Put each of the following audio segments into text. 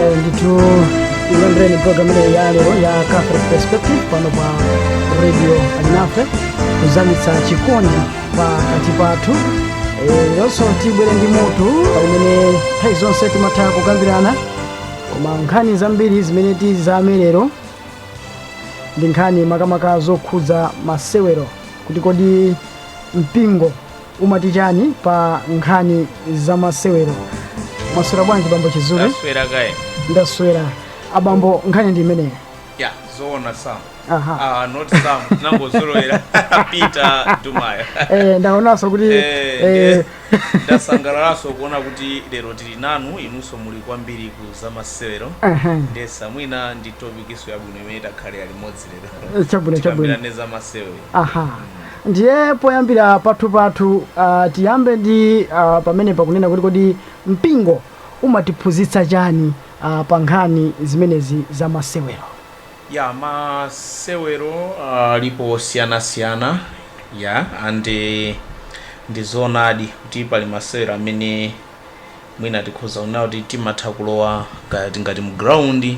Eh, ndithu ilandreni program ineyo ya lero ya catholic perspective pano pa radio alinafe kuzamitsa chikondi pakati pathu Eh, leronso tibwere ndi mutu umene nthawi zonse timatha kukambirana koma nkhani zambiri zimene tizamemo lero ndi nkhani makamaka zokhudza masewero kuti kodi mpingo umati chani pa nkhani za masewero mwaswera bwanji bambo chizule taswera kaye ndaswera abambo nkhani ndi imeneyo ya zoona sam Aha. ah, not sam ndinangozolowera peter dumaya Eh, ndaonanso kuti Eh, eh, ndasangalalaso kuona kuti lero tili nanu inunso muli kwambiri ku zamasewero aha. ndiye mwina ndi topikiso yabwino imene takhalanso limodzi lero chabwino chabwino tikambirane zamasewero aha ndiye poyambira pathu pathu ah, tiyambe ndi ah, pamene pakunena kuti kodi mpingo umatiphunzitsa chani a pa nkhani zimenezi za masewero? Yeah masewero alipo osiyanasiyana yeah and ndi zoonadi kuti pali masewero amene mwina tikhoza kunena kuti timatha kulowa kaya tingati mu ground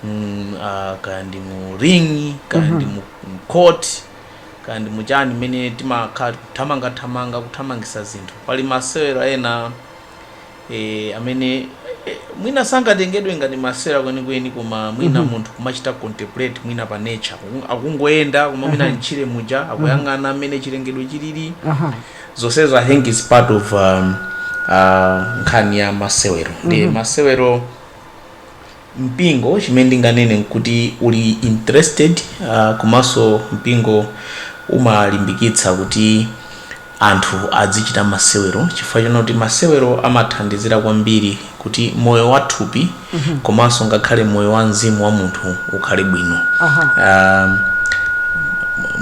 mm, uh, kaya ndi mu ring kaya ndi mu mu court kaya ndi muchani mmene timakhala tikuthamangathamanga kuthamangisa zinthu pali masewero ena e, amene e, mwina sangatengedwe ngati masewero kwenikweni koma mwina mhm. munthu kumachita contemplate mwina pa nature akungoyenda koma mwina mhm. ntchire muja mhm. akuyang'ana mmene chilengedwe chilili zonsezo i think is part of um, uh, nkhani ya masewero ndi masewero mpingo chimene ndinganene nkuti uli interested komanso mpingo umalimbikitsa kuti anthu adzichita masewero chifukwa chonena kuti masewero amathandizira kwambiri kuti moyo wa thupi komanso ngakhale moyo wa mzimu wa munthu ukhale bwino Aha. Ah,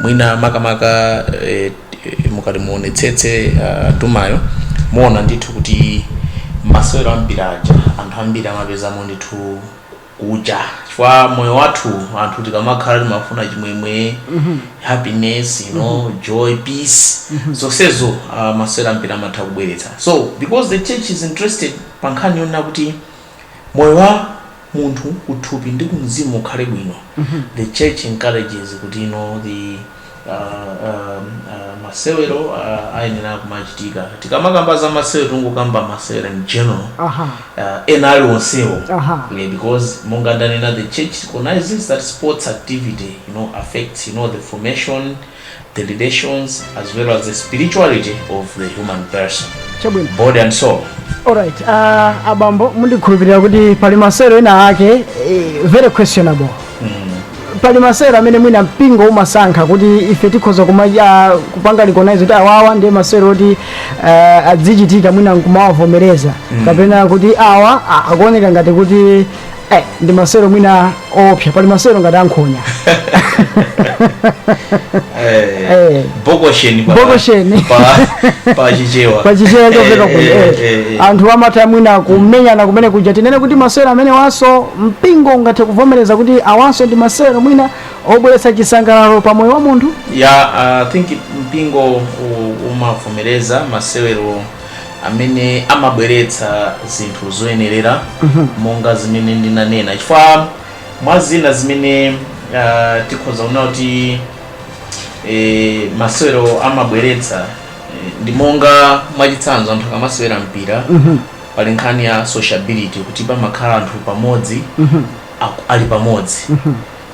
mwina makamaka eh, mukati muonetsetse uh, dumaya muona ndithu kuti masewero ambiri aja anthu ambiri amapezamo ndithu kuja chifukwa moyo wathu anthu tikamakhala timafuna chimwemwe happiness you know joy peace zonsezo uh, masewero ambiri amatha kubweretsa so because the church is interested pa nkhani yonena kuti moyo wa munthu kuthupi ndi kumzimu ukhale bwino the church encourages kuti you know, the uh, um, uh, masewero uh, ayenera kumachitika tikamakamba za masewero tikungokamba masewero in general aha uh, ena aliwonsewo aha Yeah, because monga ndanena the church recognizes that sports activity you know affects you know the formation the relations as well as the spirituality of the human person, chabwino body and soul. alright uh, abambo ndikukhulupirira kuti pali masewero ena ake eh, very questionable pali masewero amene mwina mpingo umasankha kuti ife tikhoza kupanga recognize kuti awawa ndiye masewero oti uh, azichitika mwina nkumawavomereza kapena kuti awa a- akuoneka ngati kuti Eh, ndi masewero mwina oopsa pali masewero ngati ankhonya Eh, Eh. bokosheni pa- Bokosheni. pa- pa chichewa pachichewa chopeka Eh, kuno eh, eh, eh, eh. anthu amatha mwina kumenyana kumene kuja tinene kuti masewero amenewaso mpingo ungathe kuvomereza kuti awaso ndi masewero mwina obweretsa chisangalalo pa moyo wa munthu ya i think mpingo u- umavomereza masewero amene amabweretsa zinthu zoyenerera monga zimene ndinanena chifukwa mwa zina zimene ah, tikhoza kuona kuti eh, masewero amabweretsa eh, ndi monga mwachitsanzo anthu akamasewera mpira pali nkhani ya sociability kuti pamakhala anthu pamodzi aku- ali pamodzi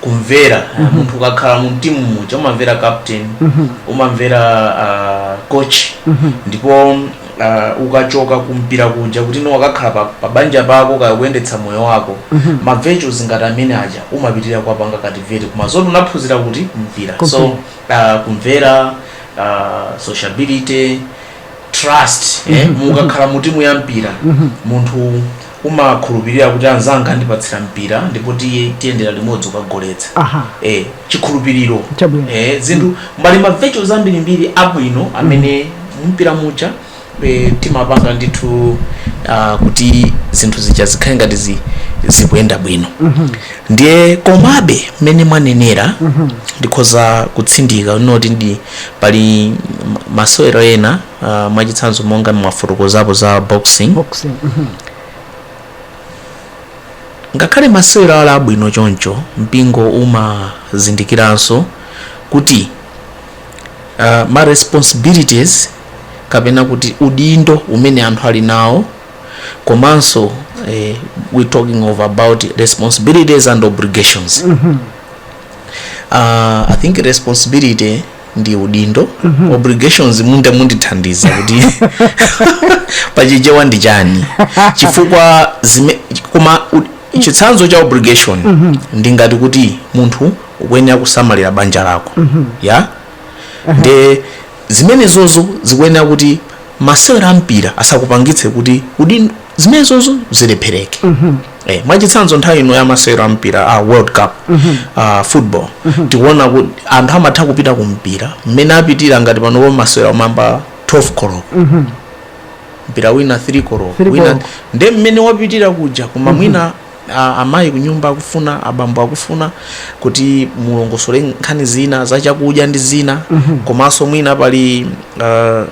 kumvera mm-hmm. munthu ukakhala mu timu muja umamvera captain mm-hmm. umamvera uh, coach mm-hmm. ndipo uh, ukachoka kumpira kuja kuti uno wakakhala pa, pa banja pako kaya kuyendetsa moyo wako mm-hmm. ma virtues ngati amene aja umapitirira kuwapanga cultivate koma zoti unaphunzira kuti kumpira Kumpi. so uh, kumvera uh, sociability trust mm-hmm. eh, mukakhala mu timu ya mpira mm-hmm. munthu umakhulupirira kuti anzanga andipatsira mpira ndipo tiye tiyendera limodzi kukagoletsa Aha. eh, chikhulupiriro Chabwino. eh, zinthu mbali ma virtues ambirimbiri abwino amene mumpira muja eh, timapanga ndithu ah, kuti zinthu zija zikhale ngati zi- zikuyenda bwino ndiye komabe mmene mwanenera ndikhoza kutsindikanso kuti indedi pali m- masewero ena uh, mwachitsanzo monga mwafotokozapo za boxing boxing mhm. ngakhale masewero ali abwino choncho mpingo umazindikiranso kuti uh, ma responsibilities kapena kuti udindo umene anthu ali nawo komanso eh, we talking about responsibilities and obligations uh, i think responsibility ndi udindo obligations mundi mundithandiza kuti pachichewa ndi chani chifukwa zime, koma u- chitsanzo cha obligation ndi ngati kuti munthu ukuyenera kusamalira banja lako ya nde zimenezozo zikuyenera kuti masewera ampira asakupangitse kuti udindo zimenezozo zilephereke eh, mwachitsanzo nthawi ino ya masewero a mpira a world cup a football tikuona kuti anthu amatha kupita ku mpira mmene apitira ngati panopo masewero omayamba 12 koloko mpira wina 3 koloko Three wina koloko. nde mmene wapitira kuja koma mwina Amayi kunyumba akufuna, abambo akufuna kuti mulongosole nkhani zina za chakudya ndi zina komanso mwina pali ah,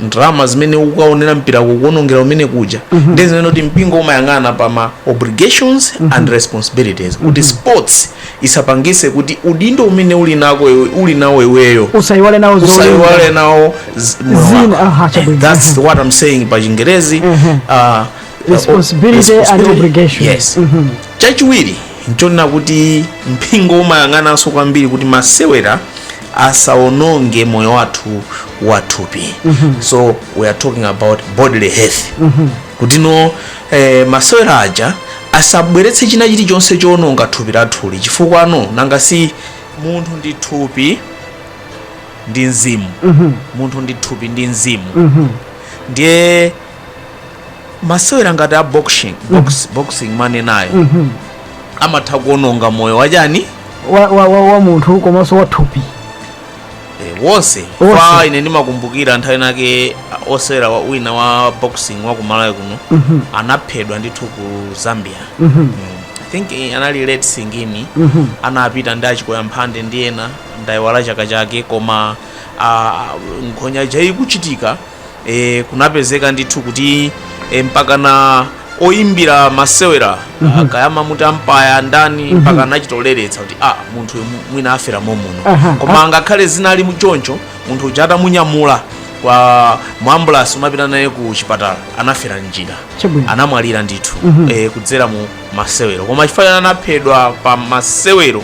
ndalama zimene ukukaonera mpira kukaonongera kumene kuja ndi zimene kuti mpingo umayang'ana pa ma obligations and responsibilities kuti sports isapangise kuti udindo umene uli nako iwe- uli nawo iweyo usayiwale nazo zolinga. usayiwale nawo z- moyo Zina, wako. aha, chabwino. That's what I'm saying pa chingerezi Mhm. Ah, responsibility and Responsibility. obligation Yes. Mhm. chachiwiri nchonena kuti mpingo umayang'ananso kwambiri kuti masewera asaononge moyo wathu wathupi so we are talking about bodily health kuti no eh, masewera aja asabweretse china chilichonse choononga thupi lathuli chifukwa no nanga si munthu ndi thupi ndi mzimu munthu ndi thupi ndi mzimu ndiye masewera ngati a boxing box, boxing mwanenayo amatha kuononga moyo wachani wa, wa, wa, wa munthu komanso wa thupi Eh, wonse Wonse. kwa ine ndimakumbukira nthawi inayake ah, osewera wa- wina wa boxing wa kumalawi kuno anaphedwa ndithu ku zambia Mm. i think eh, anali late singini anapita ndi achikoya mphande ndi ena ndayiwala chaka chake koma ah, nkhonya ija ikuchitika e, kunapezeka ndithu kuti e, mpakana oyimbira masewera mm -hmm. kaya mumati ampaya ndani mm -hmm. mpaka anachitoleretsa kuti ah, munthu uyu mwina afera momuno uh -huh. koma angakhale zinali muchoncho munthu uja atamunyamula pa ambulasi kumapita naye ku chipatala anafera mnjira Chabwino. anamwalira ndithu mm -hmm. e, kudzera mu masewero koma chifukwa anaphedwa pa masewero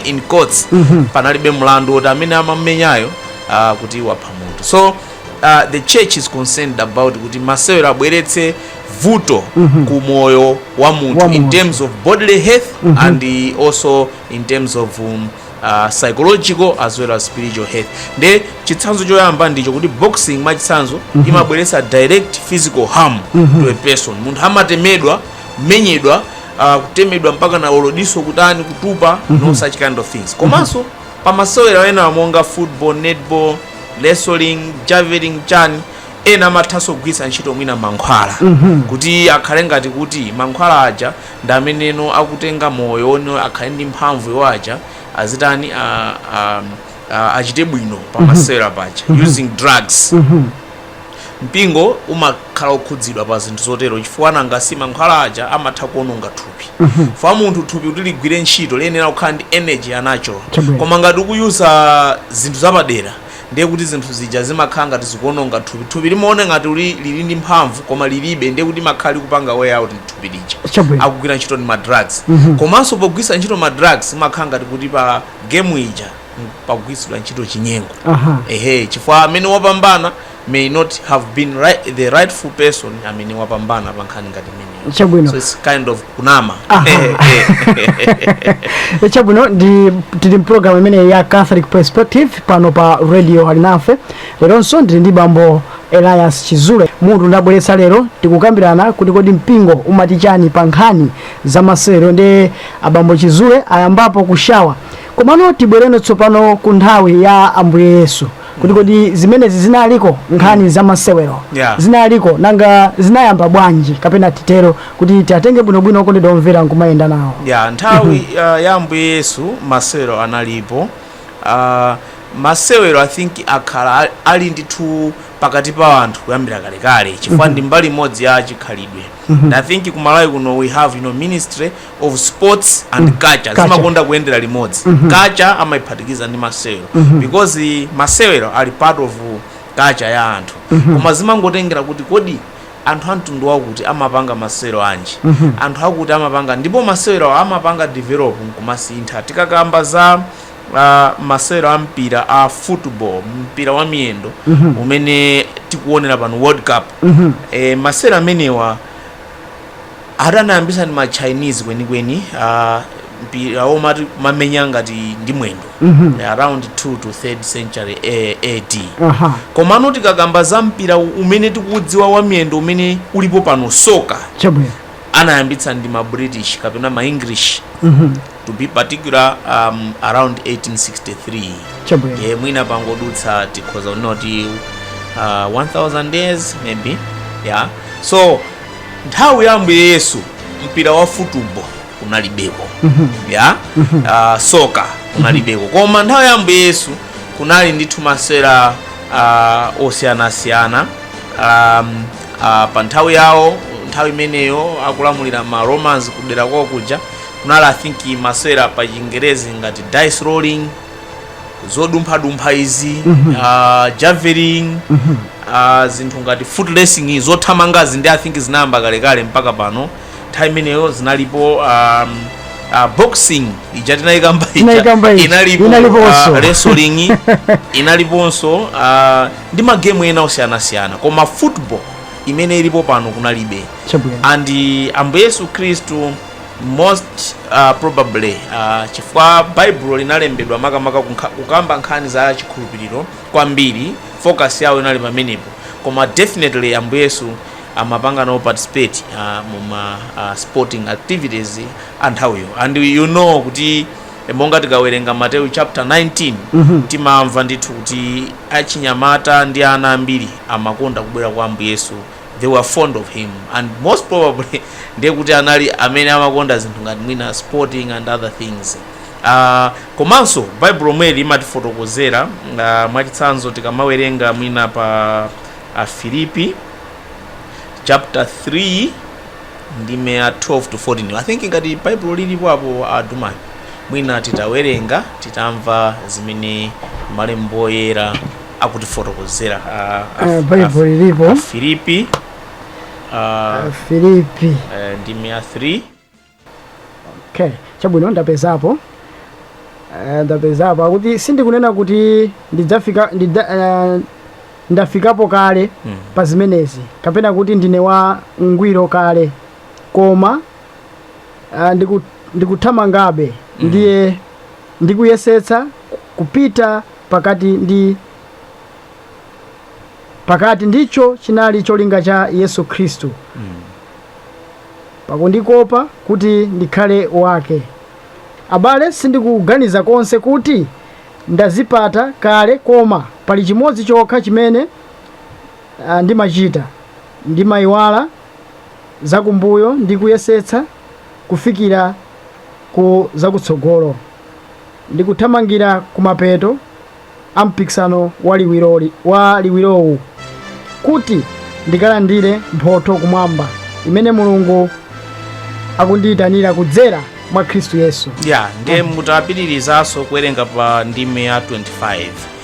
in quotes mm -hmm. panalibe mlandu woti amene amamenyayo uh, kuti wapha munthu so uh, the church is concerned about kuti masewero asabweretse vuto mm -hmm. ku moyo wa munthu in terms of bodily health mm -hmm. and also in terms of um, uh, psychological as well as spiritual health nde chitsanzo choyamba ndicho kuti boxing mwachitsanzo mm -hmm. imabweretsa direct physical harm mm -hmm. to a person munthu amatemedwa kumenyedwa uh, kutemedwa mpaka na olodiso kutani kutupa mm -hmm. no mhm. such kind of things komanso mm -hmm. Pa masewera ena monga football, netball, wrestling, javelin chani ena amathanso kugwiritsa ntchito mwina mankhwala kuti akhale ngati kuti mankhwala aja ndi ameneno akutenga moyo wo- akhale ndi mphamvu iwo aja azitani a- a- a- achite bwino pa masewera paja using drugs Mpingo umakhala okhudzidwa pa zinthu zotero chifukwa nanga si mankhwala aja amatha kuononga thupi. Chifukwa munthu thupi kuti ligwire ntchito liyenera kukhala ndi energy ya natural. Chabwino. Koma ngati ukuyuza zinthu zapadera ndiye kuti zinthu zija zimakhala ngati zikuononga thupi. Thupi limaona ngati uli lili ndi mphamvu koma lilibe ndiye kuti limakhala likupanga wear out thupi lija. Chabwino. Akugwira ntchito ndi ma drugs. Komanso pogwiritsa ntchito ma drugs imakhala ngati kuti pa game ija m- pakugwiritsidwa ntchito chinyengo aha ehe chifukwa amene wapambana may not have been right, the rightful person amene wapambana pa nkhani ngati imeneyo Chabwino. so it's kind of kunama Aha. Eh, eh. chabwino tili mpulogalamu imene ya catholic perspective pano pa radio alinafe leronso ndili ndi bambo elias chizule mutu ndabweretsa lero tikukambirana kuti kodi mpingo umati chani pa nkhani za masewero ndi abambo chizule ayambapo kushawa Komano tibwereno tsopano ku nthawi ya Ambuye Yesu kuti kodi zimenezi zinaliko nkhani za masewero Yeah. zinaliko nanga zinayamba bwanji kapena titero kuti tiatenge bwinobwino okondedwa omvera nkumayenda nawo yah nthawi uh, ya ambuye yesu masewero analipo uh, masewero i think akhala ali- ali ndithu pakati pa anthu kuyambira kalekale chifukwa ndi mbali imodzi ya chikhalidwe and i think kumalawi kuno we have you know, ministry of sports and mm. culture, culture zimakonda kuyendera limodzi mm -hmm. culture amaiphatikiza ndi masewero mm -hmm. because masewero ali part of culture ya anthu mm -hmm. koma zimangotengera kuti kodi anthu amtundu wakuti amapanga masewero anji mm -hmm. anthu akuti amapanga ndipo masewero amapanga develop nkumasintha tikakamba za uh, masewero a mpira a football mpira wa miyendo mm -hmm. umene tikuonera pano world cup mm -hmm. e, masewero amenewa Ati anayambisa ndi ma Chinese kwenikweni a mpira womati kumamenya ngati ndi mwendo Mhm. around 2 to 3rd century A- AD aha komano tikakamba za mpira umene tikudziwa wa miyendo umene ulipo pano soka chabwino anayambitsa ndi ma british kapena ma english Mhm. to be particular um, around 1863 chabwino ye mwina pangodutsa tikhoza kunena kuti uh, 1000 years maybe yeah so nthawi ya ambuye yesu mpira wa futubo kunalibeko yah Ah, soka kunalibeko koma nthawi ya ambuye yesu kunali ndithu masewera ah, osiyanasiyana um, ah, pa nthawi yawo nthawi imeneyo akulamulira ma romans kudera kwawo kuja kunali i think masewera pa chingerezi ngati dice rolling zodumphadumpha izi ah, javelin ah, zinthu ngati foot racing zothamangazi ndi i think zinayamba kalekale mpaka pano nthawi imeneyo zinalipo um, ah, boxing ija tinayikamba ija Tinayikamba ija. inalipo ah, wrestling inaliponso ah, ndi magemu ena osiyanasiyana koma football imene ilipo pano kunalibe chabwino and ambuye yesu khristu most uh, probably uh, chifukwa baibulo linalembedwa makamaka kunkha- kukamba nkhani za chikhulupiriro kwambiri focus yawo inali pamenepo koma definitely ambuye yesu amapanga nawo participate uh, muma uh, sporting activities a nthawiyo and you know kuti eh, monga tikawerenga mateyu chapter 19 timamva ndithu kuti achinyamata ndi ana ambiri amakonda kubwera kwa ambuye yesu they were fond of him and most probably ndiye kuti anali amene amakonda zinthu ngati mwina sporting and other things uh, komanso baibulo mweli limatifotokozera uh, mwachitsanzo tikamawerenga mwina pa afilipi chapter 3 ndime ya 12 to 14 i think ngati baibulo lilipo apo adumani mwina titawerenga titamva zimene malembo oyera akutifotokozera a- a- Eh, Baibulo lilipo. Afilipi, Afilipi eh, ndime ya 3 okay chabwino ndapezapo Eh, ndapezapo akuti sindikunena kuti ndidzafika ndidza, eh, ndafikapo kale Mm. pa zimenezi kapena kuti ndine wa ngwiro kale koma eh, ndiku- ndikuthamangabe ndiye ndikuyesetsa kupita pakati ndi pakati ndicho chinali cholinga cha yesu khristu pakundikopa kuti ndikhale wake abale sindikuganiza konse kuti ndazipata kale koma pali chimodzi chokha chimene ah, ndimachita ndimayiwala zakumbuyo ndi kuyesetsa kufikira ku zakutsogolo ndikuthamangira kumapeto a mpikisano wa liwiro wa liwirowu kuti ndikalandire mphotho kumwamba imene mulungu akundiyitanira kudzera mwa khristu yesu ya ndiye mutapitirizanso kuwerenga pa ndime ya 25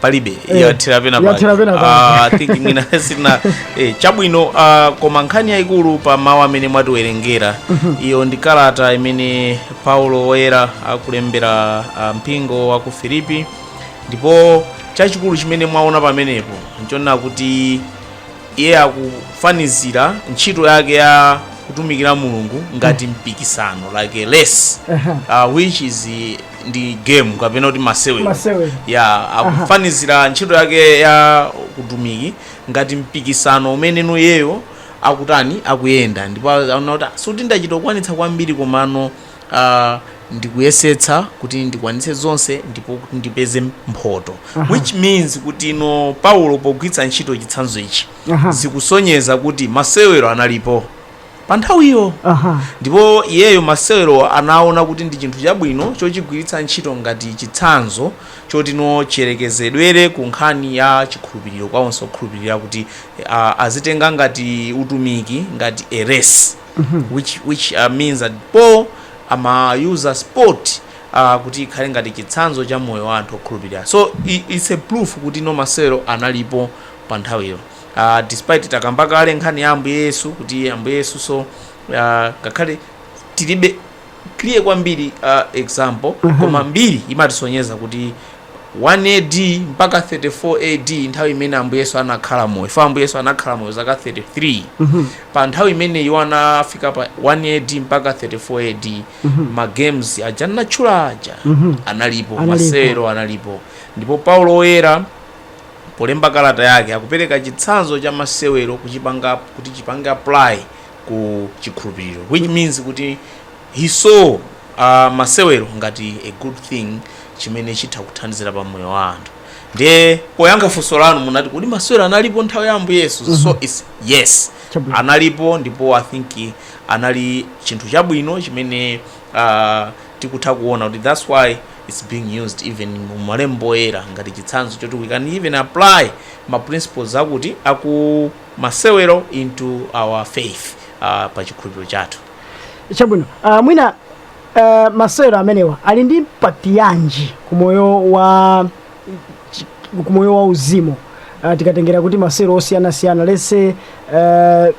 palibe Eh, yathera pena yathera pena pake. Ah, I think mwina sina eh, chabwino ah, koma nkhani yayikulu pa mawu amene mwatiwerengera iyo ndi kalata imene paulo woyera akulembera ah, mpingo wa ku filipi ndipo chachikulu chimene mwaona pamenepo nchonena kuti iye akufanizira ntchito yake ya kutumikira mulungu ngati mpikisano like a race uh, which is ndi game kapena kuti masewero Masewero. ya akufanizira ntchito yake ya utumiki ngati mpikisano umene iyeyo akutani akuyenda ndipo aona kuti "Ah, sikuti ndachita kukwanitsa kwambiri komano ah, ndikuyesetsa kuti ndikwanitse zonse ndipo kuti ndipeze mphoto which means kuti no paulo pogwiritsa ntchito chitsanzo ichi Aha. zikusonyeza kuti masewero analipo pa nthawiyo Aha. ndipo iyeyo masewerowa anaona kuti ndi chinthu chabwino chochigwiritsa ntchito ngati chitsanzo choti no chiyerekezedwere ku nkhani ya chikhulupiriro kwa onse okhulupirira kuti uh, azitenga ngati utumiki ngati a race which, which uh, means that Paul amayuza sport uh, kuti ikhale ngati chitsanzo cha moyo wa anthu okhulupirira so i- it's a proof kuti no masewero analipo pa nthawiyo uh, despite takamba kale nkhani ya ambuye yesu kuti ambuye yesunso uh, ngakhale tilibe clear kwambiri uh, example koma mbiri imatisonyeza kuti 1 ad mpaka 34 ad nthawi imene ambuye yesu anakhala moyo fa ambuye yesu anakhala moyo zaka 33 pa nthawi imene iwo anafika pa 1 ad mpaka 34 ad ma games aja ndatchula aja analipo Analipo. masewero analipo ndipo paulo woyera Polemba kalata yake, akupereka chitsanzo cha masewero kuchipanga kuti chipange apply ku chikhulupiriro which means kuti he saw uh, masewero ngati a good thing chimene chitha kuthandizira pa moyo wa anthu ndiye poyankha funso lanu munati kodi masewero analipo nthawi ya ambuye yesu mm -hmm. so it's yes Chabwino. analipo ndipo i think anali chinthu chabwino chimene uh, tikutha kuona kuti that's why it's being used even mu malembo oyera ngati chitsanzo choti we can even apply ma principles akuti aku masewero into our faith uh, pa chikhulupiriro chathu chabwino uh, mwina uh, masewero amenewa ali ndi impact yanji ku moyo wa chi- ku moyo wa uzimu uh, tikatengera kuti masewero osiyanasiyana lese uh,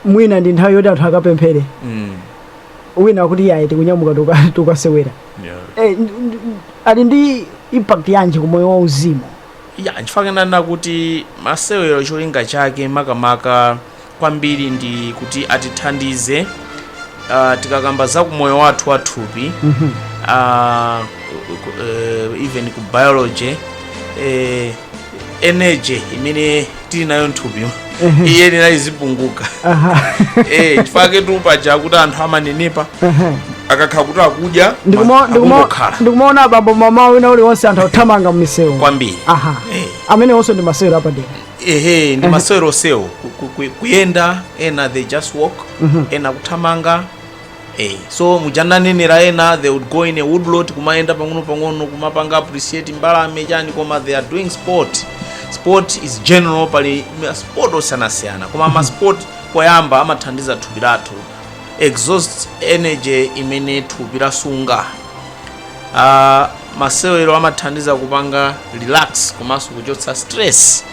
mwina ndi nthawi yoti anthu akapemphere Mm. wina akuti ayi tikunyamuka tikuka- tikukasewera Yeah. Eh, ndi- ndi- ali ndi impact yanji ku moyo wa uzimu ya chifukwa kunena kuti masewero cholinga chake makamaka kwambiri ndi kuti atithandize uh, tikakamba za kumoyo wathu wathupi uh, even ku biology eh, energy imene tili nayo mthupi iyenera izipunguka eh chifukwa chaketu paja kuti anthu amanenepa akakhala kuti akudya Ndikuma- ndikuma- akungokhala ndikumaona abambo mmawa wina uliwonse anthu akuthamanga mmisewu kwambiri aha Eh. amenewonso ndi masewero apadera ehe ndi masewero onsewo Ku- ku- ku- kuyenda ena they just walk ena kuthamanga Hey, so muja ananenera ena they would go in a woodlot kumayenda pang'ono pang'ono kumapanga appreciate mbalame chani koma they are doing sport sport is general pali ma sport osiyanasiyana koma ma sport poyamba amathandiza thupi lathu exhaust energy imene thupi lasunga uh, masewero amathandiza kupanga relax komanso kuchotsa stress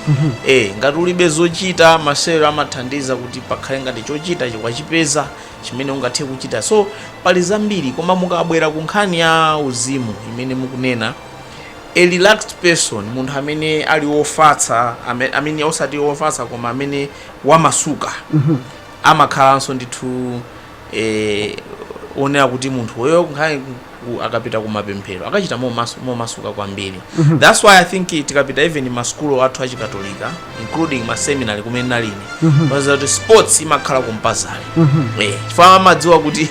eh ngati ulibe zochita masewero amathandiza kuti pakhale ngati chochita chikwachipeza chimene ungathe kuchita so pali zambiri koma mukabwera ku nkhani ya uzimu imene mukunena a relaxed person munthu amene ali wofatsa ame- amene osati wofatsa koma amene wamasuka amakhalanso ndithu eh, onera kuti munthu uyo nkhani u akapita kumapemphero akachita momasu momasuka kwambiri thats why i think tikapita even ma school athu achikatolika including ma seminary kumene nalili paja kuti sports imakhala compulsory eh chifukwa amadziwa kuti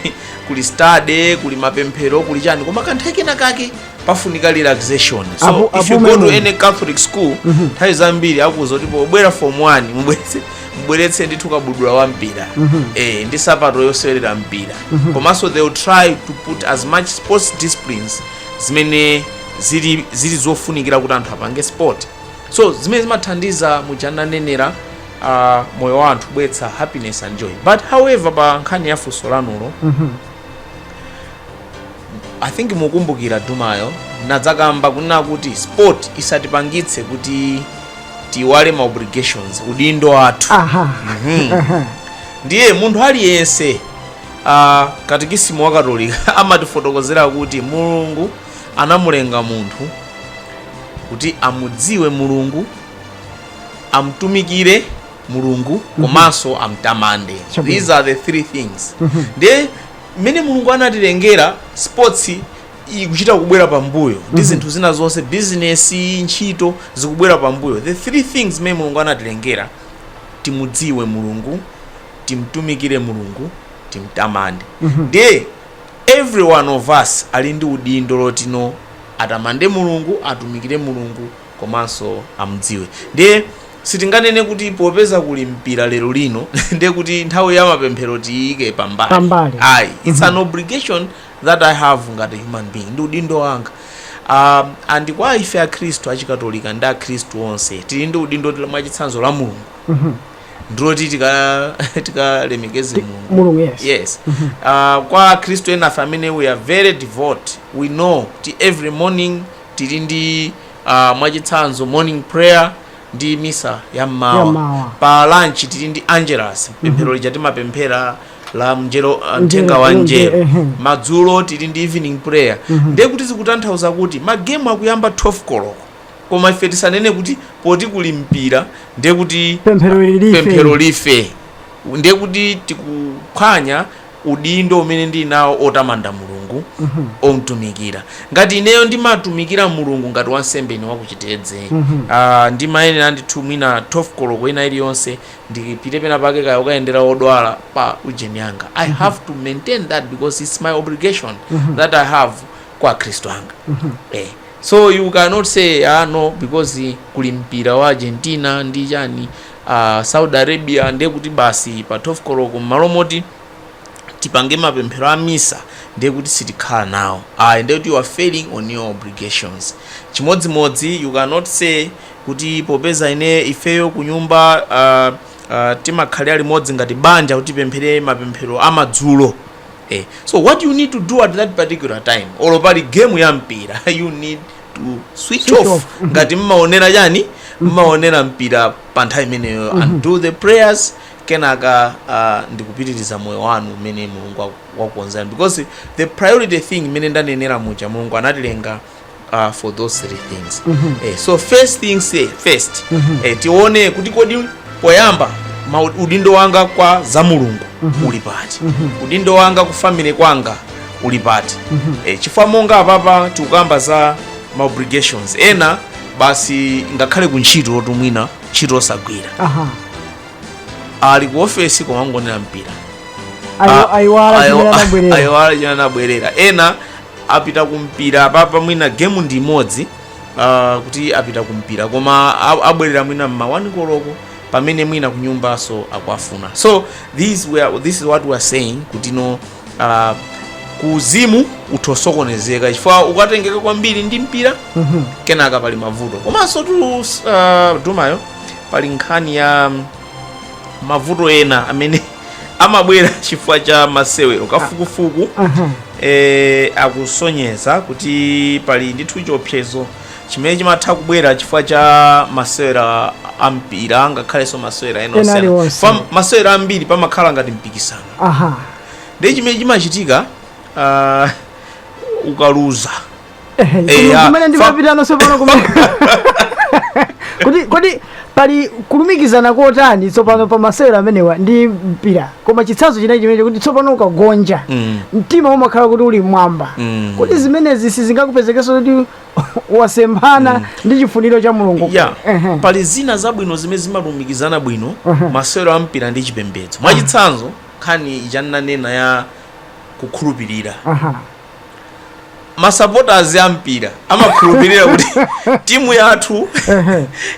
kuli study kuli mapemphero kuli chani koma kanthawi kena kake pafunika relaxation so Apo- if you apo go to memo. any catholic school nthawi zambiri amakuuza kuti pobwera form 1 mubweretse mbweretse ndithu kabudula wa mpira eh, ndi sapato yosewerera mpira komanso they will try to put as much sports disciplines zimene zili, zili zofunikira kuti anthu apange sport so zimene zimathandiza muja ananenera uh, moyo wa anthu kubweretsa happiness and joy but however pa nkhani ya funso lanulo I think mukumbukira kumayambako nadzakamba kunena kuti sport isatipangitse kuti tiiwale ma obligations udindo wathu aha Mhm. aha ndiye munthu aliyense uh, katikisimu wa katolika amatifotokozera kuti mulungu anamulenga munthu kuti amudziwe mulungu amtumikire mulungu komanso amtamande Chabwino. these are the three things ndiye mmene mulungu anatilengera sports ikuchita kubwera pambuyo ndi Mhm. zinthu zina zonse bizinesi ntchito zikubwera pambuyo the three things zimene mulungu anatilengera timudziwe mulungu timtumikire mulungu timtamande Mhm. ndiye every one of us ali ndi udindo wotino atamande mulungu atumikire mulungu komanso amudziwe ndiye sitinganene kuti popeza kuli mpira lero lino ndiye kuti nthawi ya mapemphero tiyike pambali pambali ayi it's mm -hmm. an obligation that i have ngati human being ndi udindo wanga um, and kwa ife akhristu achikatolika ndi akhristu onse tili ndi udindo mwachitsanzo la mulungu mm -hmm ndiloti tikalemekeze tika mulungu yes, yes. Mm -hmm. uh, kwa akhristu enafe amene we are very devout we know kuti every morning tili ndi uh, mwachitsanzo morning prayer ndi misa ya mmawa pa lunch tili ndi angelus pemphero lija timapemphera la mngelo uh, mthenga wa Mngelo, ehe. madzulo tili ndi evening prayer ndiye kuti zikutanthauza kuti magemu akuyamba 12 koloko koma ife tisanene kuti poti kuli mpira ndiye kuti pemphero life ndiye kuti tikuphwanya udindo umene ndili nawo otamanda Mulungu, omtumikira. Ngati ineyo ndimatumikira Mulungu ngati wansembe ndine wa ku Chitedze, aah, ndimayenera ndithu mwina 12 koloko ina iliyonse ndipite pena pake kaya kukayendera odwala pa ujeni yanga. I have to maintain that because it's my obligation that I have kwa akhristu anga. Eh, so you cannot say, ah, no, because kuli mpira wa Argentina ndi chani, Saudi Arabia ndiye kuti basi pa 12 koloko m'malo moti tipange mapemphero a misa ndiye kuti sitikhala nawo ayi, ndiye kuti you are failing on your obligations. Chimodzimodzi you cannot say kuti popeza ine ifeyo kunyumba uh, uh, timakhalira limodzi ngati banja kuti tipemphere mapemphero a madzulo eh. So what you need to do at that particular time, olo pali game ya mpira you need to switch off. Mhm. ngati mmaonera chani mmaonera mpira pa nthawi imeneyo and do the prayers kenaka uh, ndikupitiriza moyo wanu umene mulungu waku- wakukonzerani because the priority thing imene ndanenera muja mulungu anatilenga uh, for those three things eh, so first things eh, first eh, tione kuti kodi poyamba udindo wanga kwa za mulungu uli pati udindo wanga ku family kwanga uli pati e, chifukwa monga apapa tikukamba za ma obligations ena basi ngakhale ku ntchito oti mwina ntchito osagwira aha ali ku ofesi koma angoonera mpira Ayo- Ah, ayiwala ayo- chimene anabwerera ayiwala chimene anabwerera ena apita kumpira apapa mwina gemu ndi imodzi ah, kuti apita kumpira koma a- abwerera mwina mma 1 koloko pamene mwina kunyumbanso akuwafuna so this, we are, this is what we are saying kuti no ah, kuuzimu utha kusokonezeka chifukwa ukatengeka kwambiri ndi mpira kenaka pali mavuto komansotu ah, dumayo pali nkhani ya mm, mavuto ena amene amabwera chifukwa cha masewero kafukufuku eh, akusonyeza kuti pali ndithu chiopsezo chimene chimatha kubwera chifukwa cha masewera ampira ngakhalenso masewera ena Ena osiyana. aliwonse. Pa masewera ambiri pamakhala ngati mpikisano aha ndiye chimene chimachitika ah, ukaluza Ehe, Eh, inu ah, kumene fa- ndimapitano tsopano kumene kodi kodi pali kulumikizana kotani tsopano pa masewero amenewa ndi mpira koma chitsanzo chinachi chimene kuti tsopano ukagonja Mm. mtima umakhala kuti uli mmwamba Mm. kodi zimenezi sizingakupezeketse kuti wasemphana ndi chifuniro cha mulungu ya Ehe. pali zina zabwino zimene zimalumikizana bwino masewero a mpira ndi chipembedzo mwachitsanzo nkhani ichananena ya kukhulupirira Aha. masapoters a mpira amakhulupirira kuti timu yathu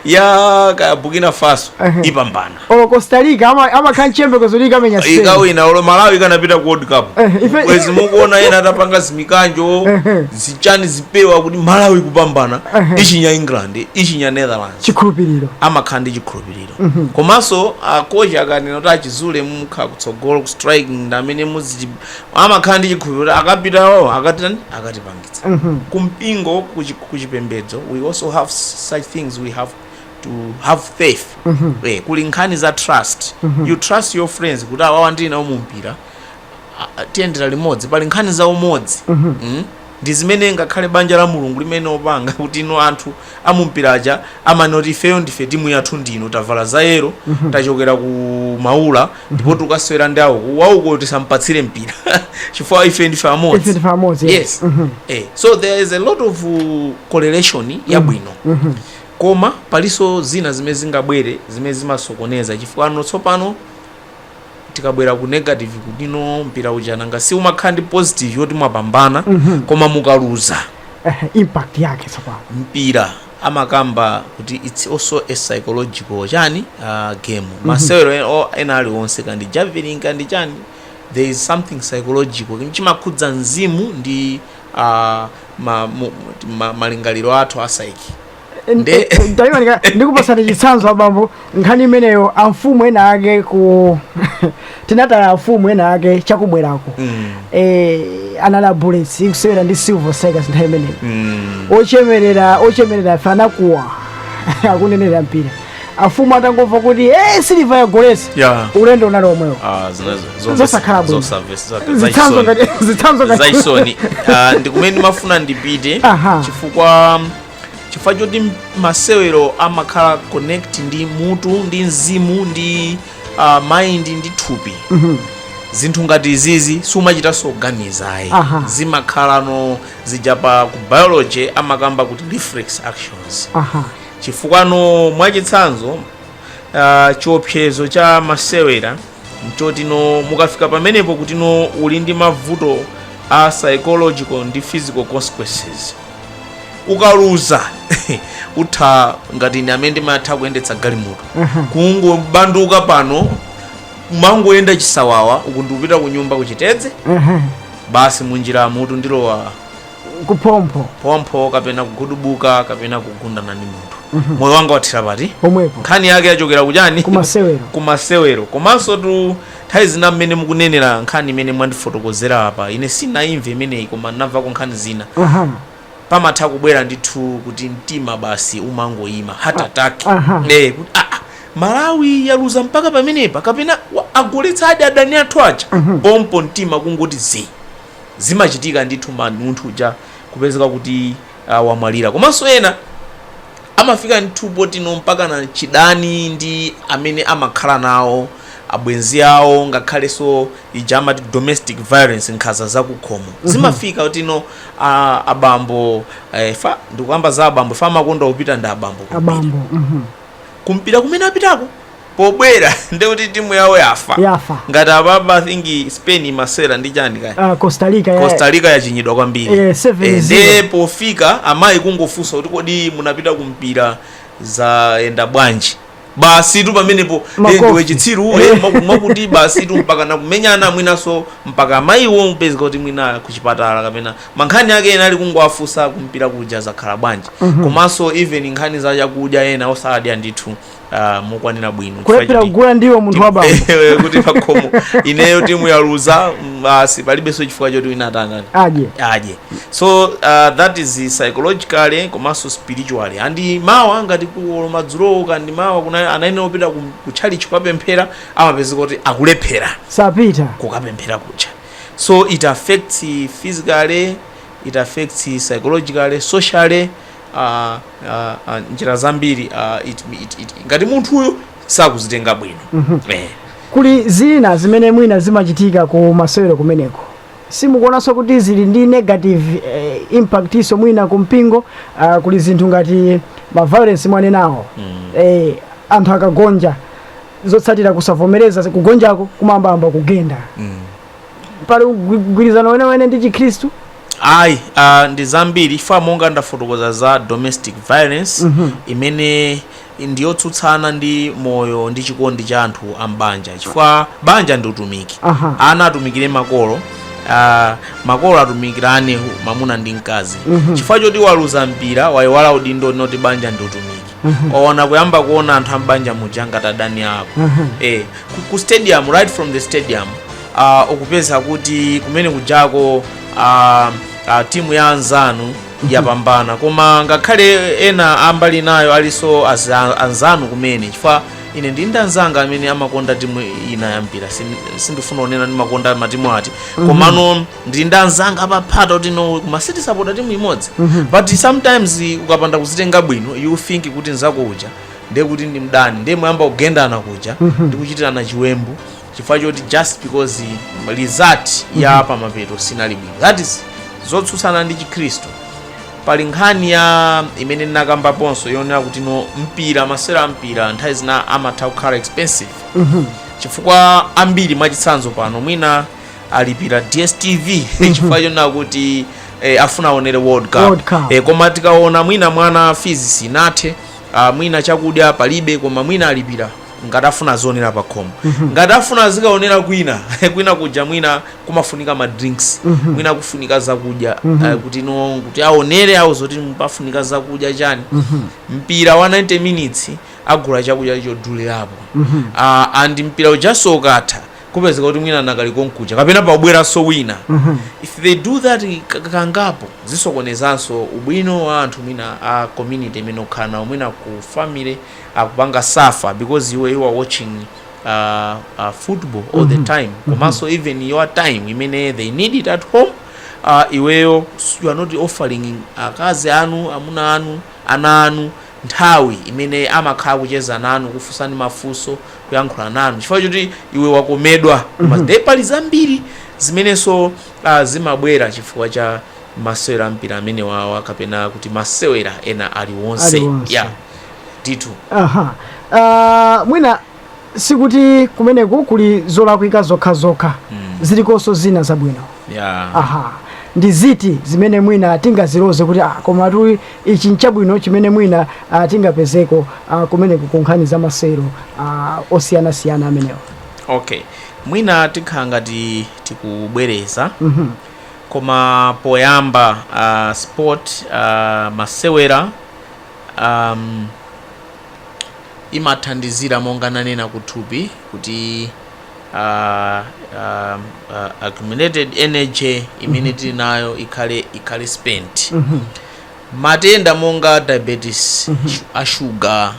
ya burkina faso ipambana olo costa rica ama- amakhala nchiyembekezo kuti ikamenya spain ikawina olo malawi ikanapita ku world cup Eh, ife- bwezi mukuona ena atapanga zimikanjo zichani zipewa kuti malawi kupambana ichinya england ichinya netherlands chikhulupiriro amakhala ndi chikhulupiriro komanso akocha akanena kuti achizule mukhala kutsogolo ku striking ndi amene muzi amakhala ndi chikhulupiriro akapita wawo akatani akatipangitsa kumpingo kuchi- kuchipembedzo we also have such things we have to have faith eh, kuli nkhani za trust you trust your friends kuti awawa ndili nawo mu mpira a- a- tiyendera limodzi pali nkhani za umodzi Mm? ndi zimene ngakhale banja la mulungu limene opanga kuti ino anthu amumpira aja amanoti ifeyo ndife timu yathu ndi ino tavala za yero tachokera ku maula ndipo tukasewera ndi awo aku uko tisampatsire mpira chifukwa ife ndife amodzi ife ndife amodzi yes eh, so there is a lot of uh, correlation yabwino Koma palinso zina zimene zingabwere zimene zimasokoneza chifukwano tsopano tikabwera ku negative kuti no mpira uja nanga si umakhala ndi positive yoti mwapambana mm -hmm. koma mukaluza eh, impact yake tsopano mpira amakamba kuti it's also a psychological chani uh, game mm -hmm. masewero e, ena aliwonse kaya ndi javelin kaya ndi chani there is something psychological chimakhudza mzimu ndi a ma, mu, ma, malingaliro athu a psyche Nde- ndaimanika ndikupasani chitsanzo abambo nkhani imeneyo amfumu ena ake kuti tinataya amfumu ena ake chakubwerako mm, eh, anali a bullets ikusewera ndi silver strikers nthawi imeneyo mm. ochemerera ochemerera ife anakuwa akunenera mpira amfumu atangomva kuti e silver yagoletsa ulendo unali omwewo ah, zina- zomvesa- Zosakhala bwino. zosavesa- za- zitsanzo zachisoni. ngati zitsanzo ngati zachisoni Ah, ndi kumene ndimafuna ndipite Aha. chifukwa chifukwa choti m- masewero amakhala connect ndi mutu ndi mzimu ndi ah, mind ndi thupi Mhm. zinthu ngati izizi siumachitanso kuganiza ayi Aha. zimakhalano zija pa ku biology amakamba kuti reflex actions aha Chifukwano mwachitsanzo uh, chiopsezo cha masewera nchoti no mukafika pamenepo kuti no uli ndi mavuto a psychological ndi physical consequences ukaluza utha ngati ine amene ndimatha kuyendetsa galimoto kungobandulika pano mangoyenda chisawawa uku ndikupita ku nyumba kuchitedze basi munjira mutu ndilowa kuphompho phompho kapena kugudubuka kapena kugundana ndi munthu Mhm. moyo wanga wathera pati pomwepo nkhani yake yachokera kuchani kumasewero kumasewero komanso tu nthawi zina mmene mukunenera nkhani imene mwandifotokozera apa ine sindinayimve imeneyi koma ndinamvako nkhani zina aha pamatha kubwera ndithu kuti mtima basi umangoyima heart attack aha. Eh, kuti, ah, ah, malawi yaluza mpaka pamenepa kapena wa- agoletsadi adani athu aja pompo mtima kungoti zii zimachitika ndithu man munthu uja kupezeka kuti uh, wamwalira komanso ena amafika ndithu potino mpakana chidani ndi amene amakhala nawo abwenzi awo ngakhalenso ija amati domestic violence nkhaza zakukhomo zimafika kutino a- abambo eh, fa ndikuyamba za abambo fa amakonda kupita ndi abambo kumpira. abambo mhm. kumpira kumene apitako Pobwera ndiye kuti timu yawo yafa. Yafa. Ngati apapa I think Spain imasewera ndi chani kaya. Uh, Costa Rica ya. Costa Rica yachinyidwa kwambiri. Eh, 7-0. Eh, ndiye pofika amayi kungofunsa kuti kodi munapita ku mpira zayenda bwanji. Basi tu pamenepo eh, Makofi. ndiwe chitsiru uwe Eh. maku- makuti basi tu mpaka nakumenyana mwinaso mpaka amayiwo kupezeka kuti mwina kuchipatala kapena mankhani ake ena ali kungowafunsa kumpira kuja zakhala bwanji. Komanso even nkhani za chakudya ena osadya ndithu ah, mokwanira bwino Chifukwa kulephera choti- kugula ndiwo munthu wa bambo Ewe, kuti pakhomo ineyo timu yaluza mm, basi palibenso chifukwa choti wina atani adye adye so uh, that is psychologically komanso spiritually and mawa ngati kuolo madzulowo kandi mawa kuna anayenera kupita ku, ku tchalitchi kukapemphera amapezeka kuti akulephera sapita kukapemphera kutchalitchi so it affects physically it affects psychologically socially uh, uh, uh, njira zambiri uh, it, it, it, ngati munthuyo sakuzitenga bwino mm -hmm. eh. kuli zina zimene mwina zimachitika ku masewero kumeneko simukuonanso kuti zili ndi negative eh, impact nso mwina ku mpingo uh, kuli zinthu ngati maviolence mwanenawo mm. eh, anthu akagonja zotsatira kusavomereza kugonjako kumayamba kugenda mm. pali ugwi- mgwirizano wenewene ndi chikhristu ayi uh, ndi zambiri chifukwa monga ndafotokoza za domestic violence Mhm. imene ndiyotsutsana ndi moyo ndi chikondi cha anthu a m'banja chifukwa banja ndi utumiki Aha. ana atumikire makolo uh, makolo atumikirane mamuna ndi mkazi Mhm. chifukwa choti waluza mpira wayiwala udindo woti banja ndi utumiki waona kuyamba kuona anthu ambanja muja ngati adani ako eh, ku- ku stadium right from the stadium uh, ukupeza kuti kumene kujako uh, uh, timu ya anzanu yapambana koma ngakhale ena ambali inayo alinso aza- anzanu kumene chifukwa ine ndi ndi anzanga amene amakonda timu ina yampira Sin- sindifuna kunena ndimakonda matimu ati komano ndili ndi anzanga apaphata kuti no koma sitisapota timu imodzi but sometimes ukapanda kuzitenga bwino you think kuti nzako uja ndiye kuti ndi mdani ndiye muyamba kugendana kuja ndi kuchitirana chiwembu chifukwa choti just because result ya pamapeto sinali bwino that is zotsutsana ndi chikhristu pali nkhani ya imene ndinakambaponso yoonera kuti no mpira masewera a mpira nthawi zina amatha kukhala expensive chifukwa ambiri mwachitsanzo pano mwina alipira dstv chifukwa chonena kuti eh, afuna aonere world cup, Eh, koma tikaona mwina mwana fees sinathe ah, mwina chakudya palibe koma mwina alipira ngati afuna azionera pa khomo ngati afuna azikaonera kwina kwina kuja mwina kumafunika ma drinks mwina kufunika zakudya eh, kuti no kuti aonere awo zoti mupafunika zakudya chani mpira wa 90 minutes agula chakudya chodulirapo Ah, and mpira ujanso ukatha kupezeka kuti mwina anakali konkuja kapena pabweranso wina mm -hmm. if they do that kangapo zisokonezanso ubwino wa anthu mwina a community imene ukhala nawo mwina ku family akupanga suffer because iwe you are watching uh, uh, football all mm -hmm. the mhm. time mhm. komanso mm -hmm. even your time imene they need it at home uh, iweyo you are not offering akazi anu amuna anu ana anu nthawi imene amakhala kucheza nanu kufunsani mafunso kuyankhula nanu chifukwa choti iwe wakomedwa koma Mhm. nde pali zambiri zimenenso ah, zimabwera chifukwa cha masewera ampira amene wawa kapena kuti masewera ena aliwonse Aliwonse. ya ndithu aha Ah, mwina sikuti kumeneku kuli zolakwika zokhazokha mm. zilikonso zina zabwino yeah. aha ndi ziti zimene mwina tingaziloze kuti ah, koma tu ichi nchabwino chimene mwina ah, tingapezeko ah, kumeneku ku nkhani za masewero ah, osiyanasiyana amenewa okay mwina tikhala ngati tikubwereza Mhm. koma poyamba uh, sport uh, masewera um, imathandizira monga nanena kuthupi kuti uh, uh, uh, accumulated energy imene tili nayo ikhale ikhale spent matenda monga diabetes shu- a shuga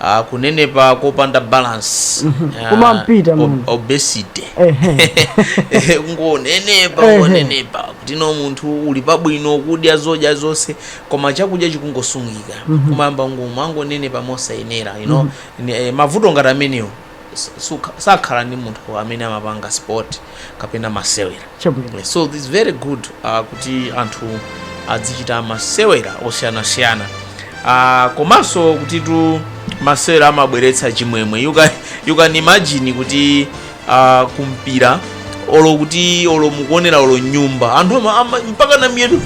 uh, kunenepa kopanda balance uh, Kumampita ob- munthu. obesity Ehe. ngonenepa Ehe. ngonenepa kuti no munthu uli pabwino kudya zodya zonse koma chakudya chikungosungika mm -hmm. umayamba umangonenepa mosayenera you know mm -hmm. e, mavuto ngati amenewo sakhala ndi munthu amene amapanga sport kapena masewera so it's very good uh, kuti anthu adzichita masewera osiyanasiyana uh, komanso kutitu masewera amabweretsa chimwemwe you can, you can imagine kuti kumpira olo kuti olo mukuonera olo nyumba anthu ama- ama- mpaka na miyetu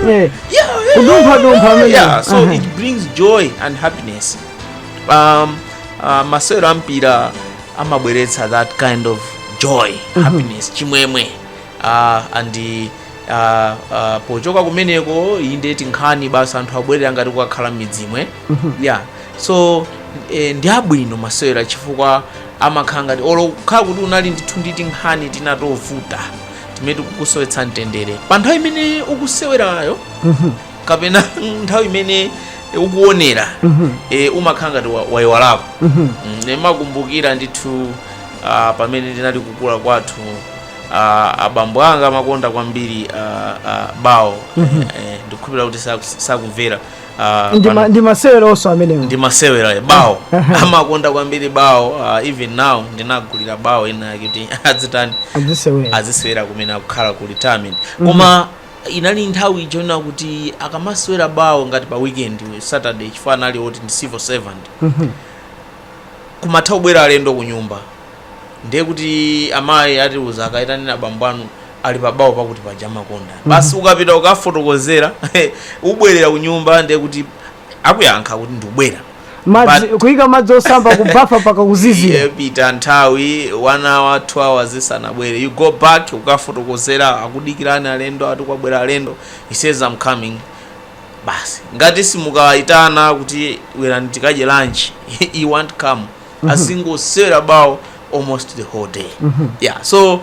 Eh, yeah, yeah, Kudumpha dumpha amene. yeah, so Aha. it brings joy and happiness um, uh, masewero ampira amabweretsa that kind of joy happiness chimwemwe uh, and uh, uh, pochoka kumeneko inde tinkhani basi anthu abwerera ngati kukakhala m'midzimwe yeah so eh, ndi abwino masewera chifukwa amakhala ngati olo ukhale kuti unali ndithu ndi tinkhani tina tovuta timene tikukusowetsa mtendere pa nthawi imene ukusewerayo kapena nthawi imene ukuonera e, umakhala ngati wa- wayiwalako Mm, ndimakumbukira ndithu ah, pamene ndinali kukula kwathu ah, abambo anga amakonda kwambiri ah, ah, bawo Eh, eh, ndikukhulupirira kuti saku- sakumvera ah, ndi, pano- ma, ndi maseweronso amenewo ndi masewera ya bawo amakonda kwambiri bawo uh, even now ndinagulira bawo ina yake kuti adzitani adzisewera azisewera kumene akukhala ku retirement koma inali nthawi chinachitika kuti akamasewera bawo ngati pa weekend saturday chifukwa anali oti ndi civil servant kumatha kubwera alendo kunyumba ndiye kuti amayi atiuza kayitaneni abambo anu ali pabawo pakuti paja amakonda basi ukapita ukafotokozera ubwerera kunyumba ndiye kuti akuyankha kuti ndikubwera madzi But- kuyika madzi osamba kubafa mpaka kuzizira Iye pita nthawi one hour two hours asanabwere you go back ukafotokozera akudikirani alendo ati kwabwera alendo he says i'm coming basi ngati mukawaitana kuti bwerani tikadye lunch he won't come azingosewera bawo almost the whole day yeah so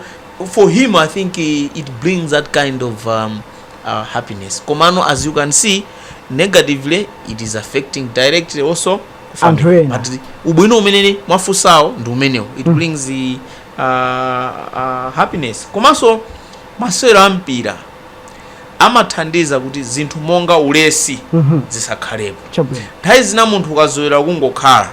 for him i think eh, it brings that kind of um, uh, happiness komano as you can see negatively it is affecting directly also Anthu family. ena. but ubwino umene mwafusawo ndi umenewo it brings the, uh, uh, happiness komanso masewero a mpira amathandiza kuti zinthu monga ulesi zisakhalepo. Nthawi zina munthu ukazolowera kungokhala,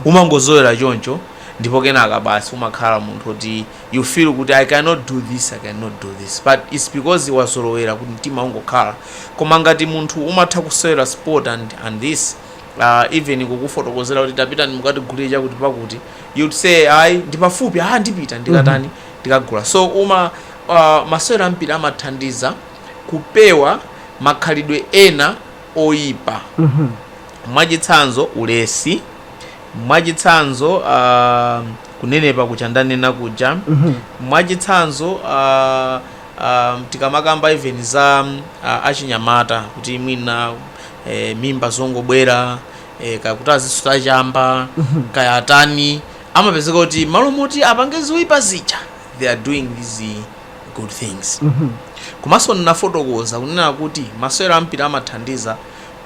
umangozolowera choncho ndipo kenaka basi umakhala munthu woti you feel kuti I cannot do this, I cannot do this but it's because wazolowera kuti mtima ungokhala. Koma ngati munthu umatha kusewera sport and and this even kukufotokozera kuti tapitani mukatigulire chakuti pakuti you'd say ayi ndipafupi, aah ndipita ndikatani ndikagula. So uma Masewero a mpira amathandiza kupewa makhalidwe ena oipa. Mwachitsanzo, ulesi. Mwachitsanzo, kunenepa kuja ndanena kuja. Mwachitsanzo, tikamakamba even za achinyamata kuti mwina mimba zongobwera, kaya kuti azisuta chamba, kaya atani, amapezeka kuti m'malo moti apange zoipa zija. they are doing these good things komanso ndinafotokoza kunena kuti masewero ampira amathandiza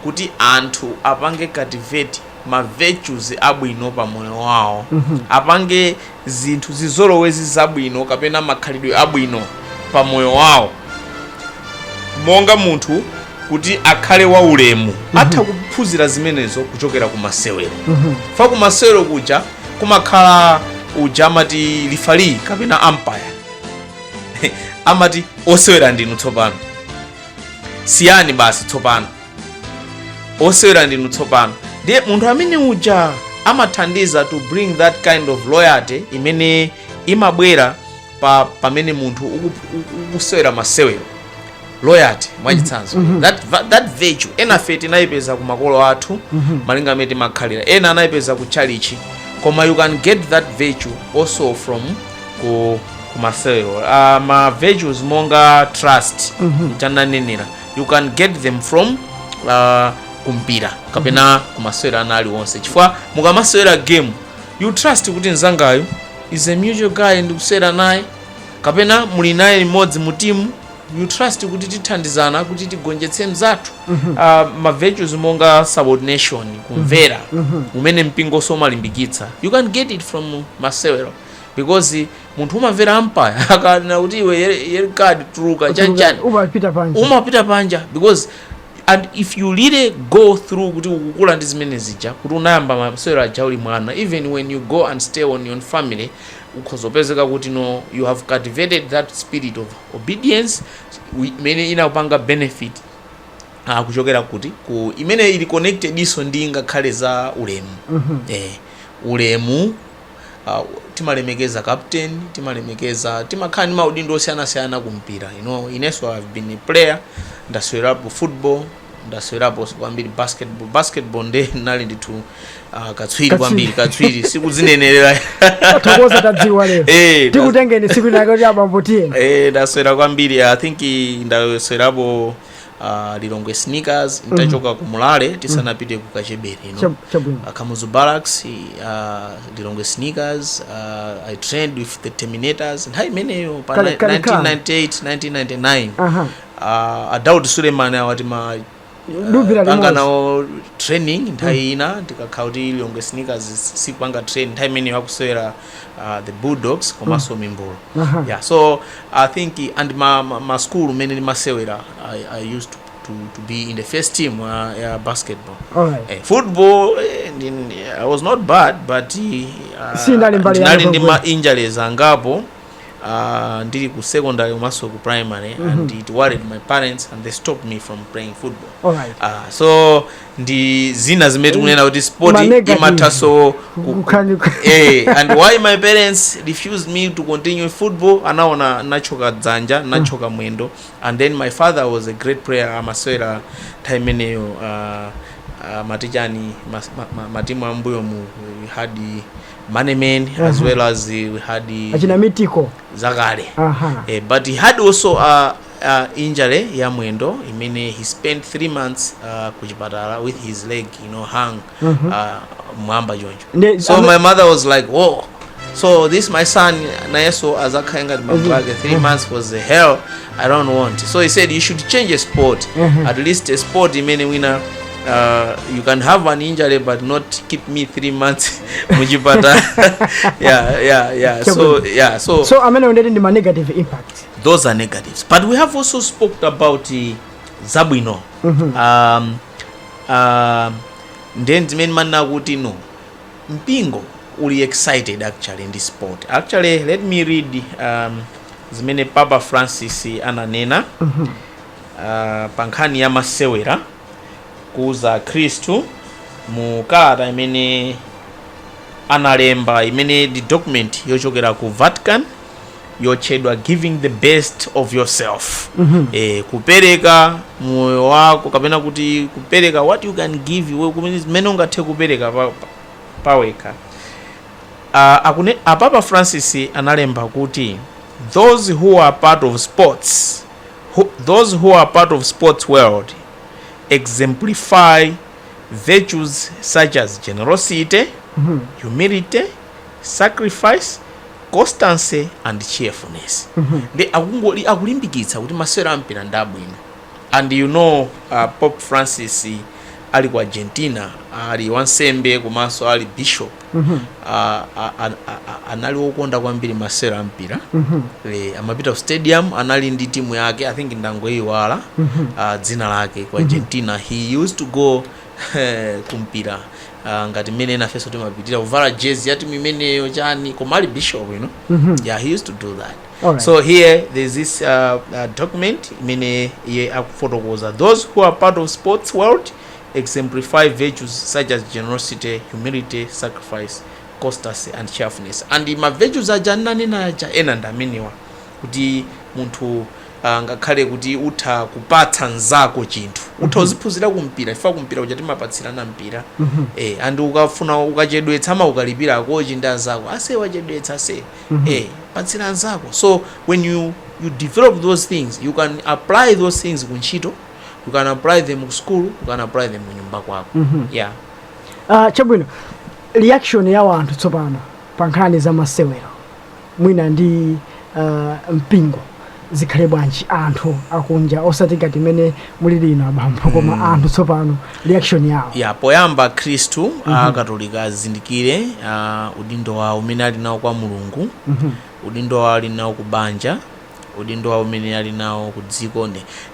kuti anthu apange cultivate ma virtues abwino pa moyo wawo apange zinthu zizolowezi zabwino kapena makhalidwe abwino pa moyo wawo monga munthu kuti akhale waulemu atha kuphunzira zimenezo kuchokera ku masewero fa ku masewero kuja kumakhala uja amati referee kapena umpire amati osewera ndinu tsopano siyani basi tsopano osewera ndinu tsopano ndiye munthu amene uja amathandiza to bring that kind of loyalty imene imabwera pa pamene munthu uku- uku- ukusewera masewero loyalty mwachitsanzo that, va- that virtue ena fe tinayipeza ku makolo athu malinga m'mene timakhalira ena anayipeza ku tchalichi koma you can get that virtue also from ku, ku masewero uh, ma virtues monga trust chananenera you can get them from uh, kumpira kapena kumasewero ena aliwonse chifukwa mukamasewera game you trust kuti mzangayu is a mutual guy ndikusewera naye kapena muli naye limodzi mu timu you trust kuti tithandizana kuti tigonjetse mzathu Ah, ma virtues monga subordination kumvera umene mpingonso umalimbikitsa you can get it from masewero because munthu umamvera umpire akanena kuti iwe yellow card tuluka chanichani umapita panja umapita panja because and if you really go through kuti ukukula ndi zimene zija kuti unayamba masewero aja uli mwana even when you go and stay on your family ukhoza kupezeka kuti no you have cultivated that spirit of obedience wi- imene inakupanga benefit ah, kuchokera kuti ku imene ili connectedinso ndi ngakhale za ulemu eh, ulemu uh, timalemekeza captain timalemekeza timakhala ndi maudindo osiyanasiyana ku mpira you know, inenso i've been a player ndasewerapo football ndasewerapo kwambiri basketball basketball nde ndinali ndithu uh, katswiri kwambiri katswiri sikudzinenerera tathokoza tadziwa lero Eh, tikutengeni tsiku linalake kuti abambo tiye eh, ndasewera kwambiri i think i- ndasewerapo uh, lilongwe sneakers nditachoka ku mulale tisanapite ku kachebere you know? Chab- chabwino uh, Kamuzu Barracks, uh, Lilongwe Sneakers, uh, I trained with the Terminators, nthawi imeneyo pa Kale- ni- kale ka. 1998, 1999. aha Uh, a Daud Suleiman awati ma Duvira panga limodzi. nawo training nthawi ina tikakhala kuti Lilongwe Sneakers sikupanga train nthawi imeneyo akusewera uh, the bulldogs komanso mimbulu Aha. yeah so i think and ma, ma, ma school mene ndimasewera I, i used to, to, to be in the first team uh, ya basketball Alright. eh, football eh, ndi- ndi- i was not bad but uh, Sinali mbali ya ndinali ndi ma Liverpool. injuries angapo uh, ndili ku secondary komanso ku primary and it worried my parents and they stopped me from playing football Alright. uh, so ndi zina zimene tikunena kuti sport Ma negative. imathaso ku- Kukhani- eh, and why my parents refused me to continue football anaona nditathyoka dzanja nditathyoka mwendo and then my father was a great player amasewera nthawi imeneyo uh, uh, matichani mas- ma- ma- matimu ambuyomu we had manemen as Aha. well as we had achina mitiko zakale aha Eh, but he had also uh, injury ya mwendo imene he spent 3 months uh, ku chipatala with his leg you know hung uh, mwamba choncho Nde- so ame- my mother was like whoa so this my son nayeso azakhale ngati bambo ake 3 months was the hell i don't want so he said you should change a sport at least a sport imene wina uh, you can have an injury but not keep me 3 months muchipatala yeah yeah yeah so yeah so so amene undeti ndi ma negative impact those are negatives but we have also spoke about eh, zabwino um, um, ndiye ndi zimene ndimanena kuti no mpingo uli excited actually ndi sport actually let me read um, zimene papa francis ananena uh, pa nkhani ya masewera kuuza akhristu mu kalata imene analemba imene ndi document yochokera ku vatican yotchedwa giving the best of yourself eh, kupereka moyo wako kapena kuti kupereka what you can give iwe kumene zimene ungathe kupereka pa- pa- pawekha Ah, akune- a papa francis analemba kuti those who are part of sports who, those who are part of sports world exemplify virtues such as generosity humility sacrifice constancy and cheerfulness ndiye akungoli akulimbikitsa kuti masewero ampira ndi abwino and you know uh, pope francis ali ku argentina ali wansembe komanso ali bishop uh, a- a- a- a- anali wokonda kwambiri masewero ampira Eh, amapita ku stadium anali ndi timu yake i think ndangoyiwala uh, dzina lake ku argentina he used to go eh, kumpira ah, ngati mmene ena ifenso timapitira kuvala jezi ya timu imeneyo chani koma ali bishop you know Mhm. yeah he used to do that Alright. so here there's this uh, uh, document imene iye akufotokoza those who are part of sports world exemplify virtues such as generosity humility sacrifice constancy and cheerfulness and ma virtues aja ndinanena aja ena ndi amenewa kuti munthu ah, ngakhale kuti utha kupatsa mzako chinthu utha uziphunzira kumpira chifukwa kumpira kuja timapatsirana mpira eh, and ukafuna ukachedwetsa amakukalipira akochi ndi anzako ase wachedwetsa ase eh, patsira mzako so when you, you develop those things you can apply those things ku ntchito you can apply them ku school you can apply them kunyumba kwako yeah Ah, chabwino reaction ya wanthu tsopano pa nkhani za masewero mwina ndi uh, mpingo zikhale bwanji anthu akunja osati ngati mmene muli inu abambo koma mm. anthu tsopano reaction yawo poyamba akhristu mm -hmm. akatolika azindikire uh, udindo wawo umene ali nawo kwa mulungu mm -hmm. udindo wawo ali nawo ku banja udindo wawo umene ali nawo ku dziko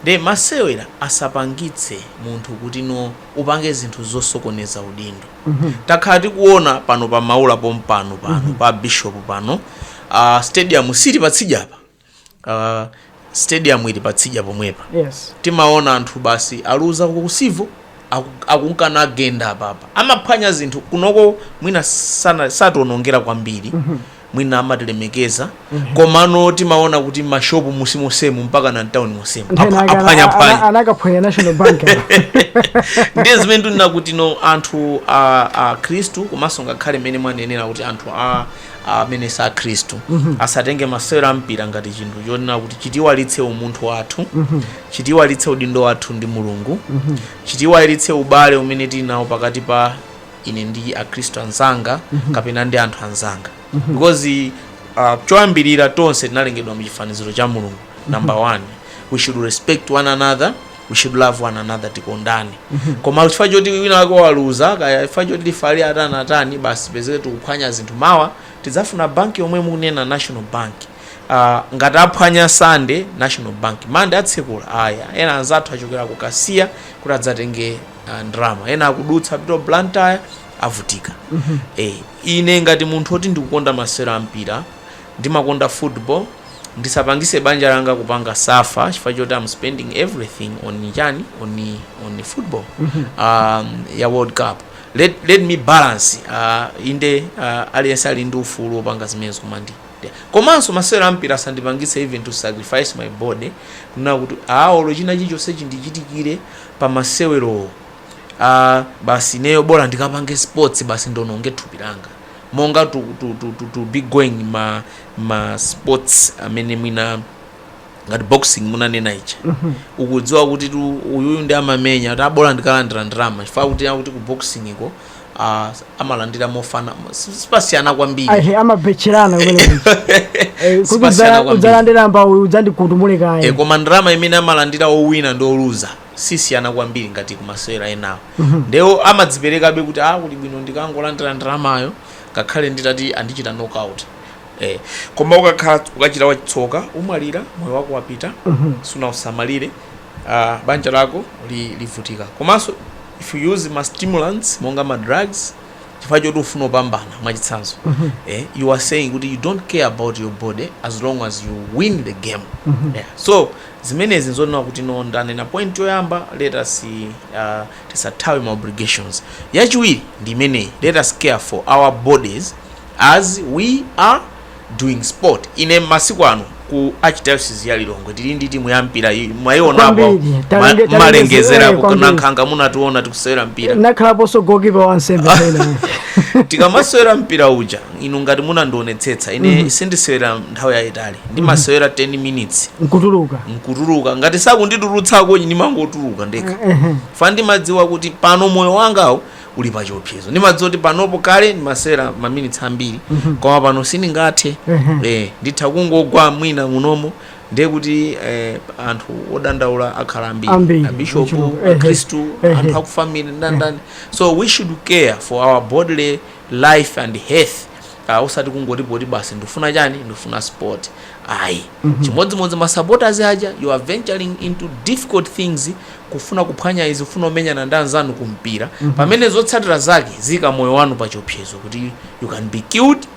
nde masewera asapangitse munthu kuti no upange zinthu zosokoneza udindo takhala tikuona pano pa maula pompano pano pa bishop pano uh, stadium sili patsidya apa uh, stadium ili patsidya pomwepa yes timaona anthu basi aluza ku Civo akunkana kugenda apapa amaphwanya zinthu kunoko mwina sana- sationongera kwambiri mwina amatilemekeza komano timaona kuti mashopu munsi monsemu mpaka na mtauni monsemu Apa- Nthawi yake ana- aphwanya ana- phwanya anakaphwanya national bank ndiye zimene ndikunena kuti no anthu a, a khristu komanso ngakhale mmene mwanenera kuti anthu a amene si akhristu asatenge masewero a mpira ngati chinthu chonena kuti chitiiwalitse umunthu wathu chitiiwalitse udindo wathu ndi mulungu chitiiwalitse ubale umene tili nawo pakati pa ine ndi akhristu anzanga kapena ndi anthu anzanga because uh, choyambirira tonse tinalengedwa mu chifaniziro cha mulungu number one we should respect one another we should love one another tikondane koma chifukwa choti wina wake waluza kaya chifukwa choti lifale atani atani basi pezeke tikuphwanya zinthu mawa tidzafuna banki yomwe mukunena national bank uh, ngati aphwanya sande national bank mande atsekula ayi ena anzathu achokera ku kasiya kuti adzatenge ah, ndalama ena akudutsa kupita ku blantyre avutika eh, ine ngati munthu oti ndikukonda masewero a mpira ndimakonda football ndisapangise banja langa kupanga safa chifukwa choti am spending everything on chani on, on football um, ya world cup let, let me balance uh, inde uh, aliyense ali ndi ufulu wopanga zimenezo koma ndi ndi- komanso masewero ampira asandipangise even to sacrifice my body kunena kuti olo china chilichonse chindichitikire pa masewerowo a basi ineyo bola ndikapange sports basi ndiononge thupi langa monga to, to, to, to, to be going ma, ma sports amene mwina ngati boxing munanena icha ukudziwa kuti tu uyuyu ndi amamenya kuti abola ndikalandira ndalama chifukwa kuti akuti ku boxing ko ah, amalandira mofana si- sipasiyana kwambiri Ahe, amabetcherana kumene Eh, kuti Sipasiyana udzala- kwambiri. udzalandira mbama udzandikutumule e, kaye koma ndalama imene amalandira owina ndi oluza sisiyana kwambiri ngati kumasewera enawo ndewo amadziperekabe kuti a kuli bwino ndikangolandira ndalamayo ngakhale nditati andichita knockout e, koma ukakhala ukachita wachitsoka umwalira moyo wako wapita sunausamalire uh, banja lako livutika komanso if you use ma stimulants monga ma drugs chifukwa choti ufuna upambana mwachitsanzo mm -hmm. eh, you are saying kuti you don't care about your body as long as you win the game mm -hmm. yeah. so zimenezi nzonena kuti no ndanena point yoyamba let us uh, tisathawe ma obligations yachiwiri ndi imeneyi let us care for our bodies as we are doing sport ine masiku ano ku archdiocese ya lilongwe tili ndi timu ya mpira iyi mwaionapo Kwambiri. Talenge- talenge mmalengezera ziwere kwambiri. kuNankhaka munationa tikusewera mpira nakhalaponso gokipa wansembe pena tikamasewera mpira uja inu ngati munandionetsetsa ine sindisewera nthawi yayitali ndimasewera 10 minutes nkutuluka nkutuluka ngati sakunditulutsako ndimangotuluka ndekha chifukwa ndimadziwa kuti pano moyo wangawo uli pa chiopsezo ndimadziwa kuti panopo kale ndimasewera maminitsi ambiri koma pano sindingathe eh, nditha kungogwa mwina munomo ndiye kuti eh, anthu odandaula akhala Ambiri, ambiri abishopu ochuluka, ehe, akhristu ehe. anthu akufamily ndandani so we should care for our bodily life and health uh, usati kungoti poti basi ndifuna chani ndifuna sport ayi chimodzimodzi masupporters aja you are venturing into difficult things kufuna kuphwanya izi, kufuna kumenyana ndi anzanu ku mpira, pamene zotsatira zake ziika moyo wanu pa chiopsezo kuti you can be killed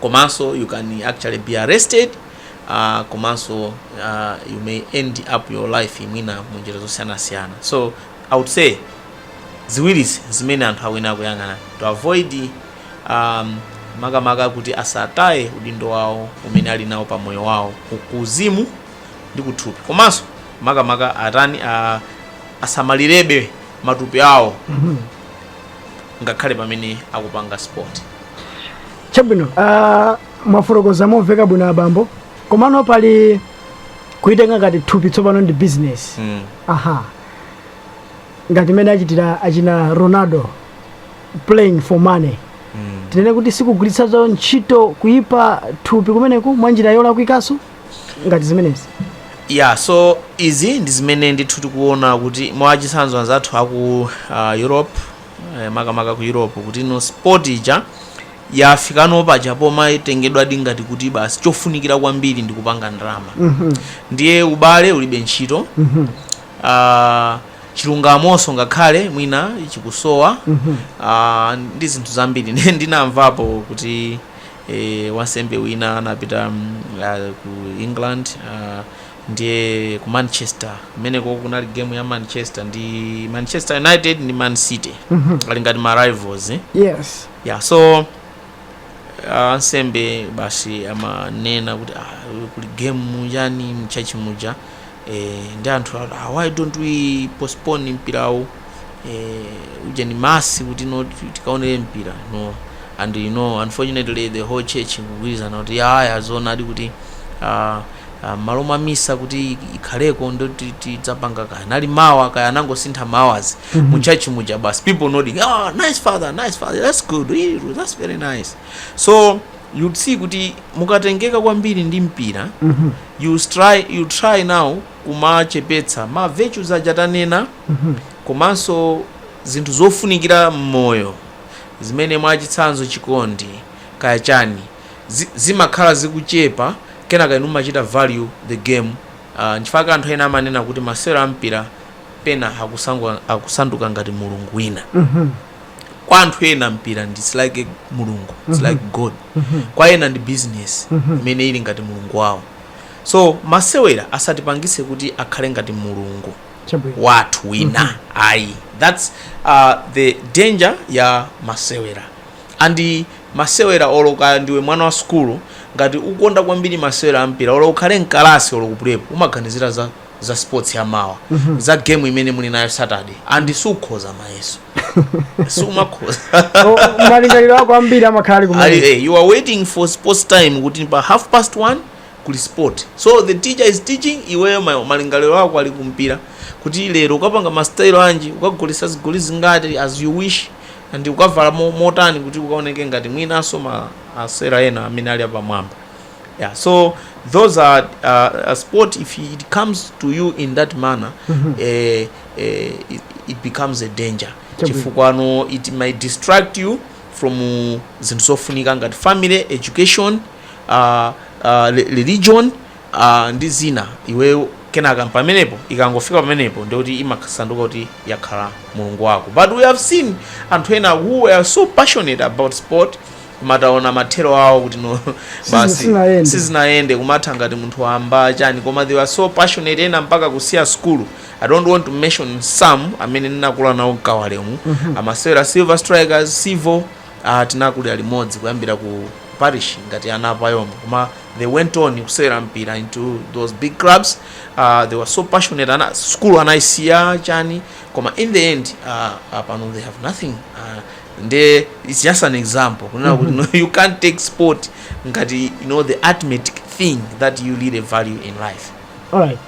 komanso you can actually be arrested uh, komanso uh, you may end up your life mwina mu njira zosiyanasiyana so i would say ziwirizi zimene anthu ayenera kuyang'ana to avoid um, makamaka kuti asataye udindo wawo umene ali nawo pa moyo wawo ku- kuuzimu ndi kuthupi komanso makamaka atani a, asamalirebe matupi awo ngakhale pamene akupanga sport chabwino ah, mwafotokoza momveka bwino abambo komano pali kulitenga ngati thupi tsopano ndi business mm. aha ngati mmene achitira achina ronaldo playing for money mm. tinene kuti sikugwiritsanso ntchito kuyipa thupi kumeneku mwa njira yolakwikanso ngati zimenezi ya so izi ndi zimene ndithu tikuona kuti mwachitsanzo anzathu aku uh, europe eh, makamaka ku europe kuti no sport ija yafikano paja pomatengedwadi ngati kuti basi chofunikira kwambiri ndi kupanga ndalama Mhm. ndiye ubale ulibe ntchito Mhm. Ah, chilungamonso ngakhale mwina chikusowa Mhm. Ah, ndi zinthu zambiri Ndi- ndinamvapo kuti Wansembe wina anapita ku England ndiye ku Manchester kumeneko kunali game ya Manchester ndi Manchester United ndi Man City ali ngati ma rivals eh? yes yeah so ah, ansembe basi amanena kuti ah, kuli game mujani mchachi muja Eee nde anthu ati ah why don't we postpone mpirawu eeh ujeni mass kuti no tikaonere mpira no and you know unfortunately the whole church kugwirizana kuti yaya zoonadi kuti ah ah, m'malo mwa misa kuti ikhaleko ndo ti- tidzapanga kaya anali mawa kaya anangosintha mawazi mu church muja basi people nodding ah nice father nice father that's good Eh, that's very nice so you'd see kuti mukatengeka kwambiri ndi mpira you try you try now kumachepetsa ma virtues aja tanena komanso zinthu zofunikira mmoyo zimene mwachitsanzo chikondi kaya chani zi, zimakhala zikuchepa kenaka inu mumachita value the game uh, nchifukwa anthu ena amanena kuti masewero ampira pena akusangu- akusanduka ngati mulungu wina kwa anthu ena mpira ndi it's like mulungu it's like god kwa ena ndi business imene ili ngati mulungu wawo so masewera asatipangise kuti akhale ngati mulungu chabwino wathu wina ayi thats uh, the danger ya masewera and masewera olo kaya ndiwe mwana wa sukulu ngati ukonda kwambiri masewera ampira olo ukhale mkalasi olo kupulepo umaganizira za za sports ya mawa za game imene muli nayo saturday and sukhoza mayeso sumakhoza Oh, malingaliro ako ambiri amakhala ali Ali- kumene eh, you are waiting for sports time kuti pa half past one kuli sport so the teacher is teaching iweyo ma- malingaliro ako ali kumpira kuti lero ukapanga mastayilo anji ukagolesa zigoli zingati as you wish and ukavala mo- motani kuti ukaoneke ngati mwinanso ma osewera ena amene ali apamwamba yeah so those are uh, a sport if it comes to you in that manner eh, eh, it, it becomes a danger Chabwino. chifukwa no it might distract you from uh, zinthu zofunika ngati family education uh, uh, re- religion uh, ndi zina iweyo kenaka pamenepo ikangofika pamenepo ndikuti imasanduka kuti yakhala mulungu wako but we have seen anthu ena who were so passionate about sport koma taona mathero awo kuti no basi sizinayende. sizinayende kumatha ngati munthu wamba chani koma they were so passionate ena mpaka kusiya school i don't want to mention some amene ndinakula nawo mkawale umu amasewera silver strikers civo uh, tinakulira limodzi kuyambira ku parish ngati ana apayomwe koma they went on kusewera mpira into those big clubs uh, they were so passionate ana, school anayisiya chani koma in the end uh, uh, pano they have nothing uh, nde its just an example kunena kuti no, you can't take sport ngati you know the ultimate thing that you really value in life alright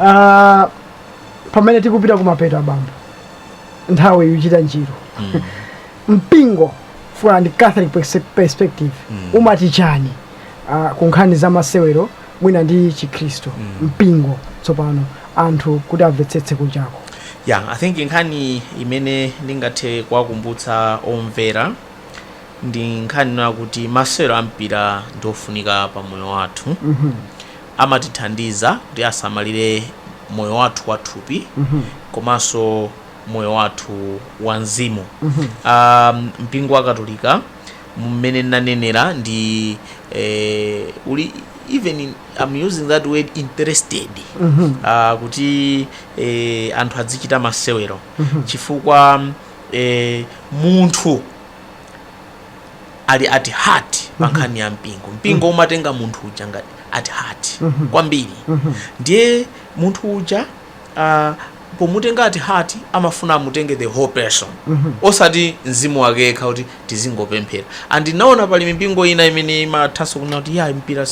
Ah, pamene tikupita kumapeto abambo nthawi ikuchita njiru mpingo from a catholic perse- perspective umati chani ah, ku nkhani za masewero mwina ndi chikhristu mpingo tsopano anthu kuti amvetsetse kunjako ya i think nkhani imene ndingathe kuwakumbutsa omvera ndi nkhani ina yakuti masewero ampira ndi ofunika pa moyo wathu amatithandiza kuti asamalire moyo wathu wathupi komanso moyo wathu wa mzimu um, mpingo wa katolika mmene nnanenera ndi eh, uli even in, I'm using that word interested ah, kuti eh, anthu adzichita masewero chifukwa eh, munthu ali at heart pa nkhani ya mpingo mpingo umatenga munthu uja ngati at heart kwambiri ndiye munthu uja uh, pomutenga at heart amafuna amutenge the whole person mm -hmm. osati mzimu wake yekha kuti tizingopemphera and naona pali mipingo ina imene imathanso kunena kuti ya mpira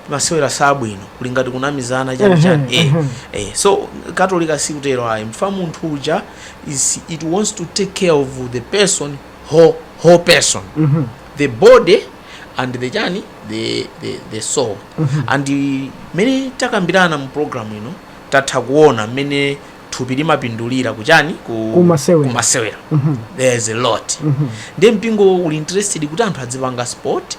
masewera sabwino kuli ngati kunamizana chani mhm, chani eh, mhm. eh. so katolika sikutero ayi chifukwa munthu uja it wants to take care of the person whole, whole person mm -hmm. the body and the chani the, the, the soul mm -hmm. and mene takambirana mu program ino you know, tatha kuona mmene thupi limapindulira kuchani ku Kumasewera. kumasewera there is a lot ndiye mpingo uli interested kuti anthu adzipanga sport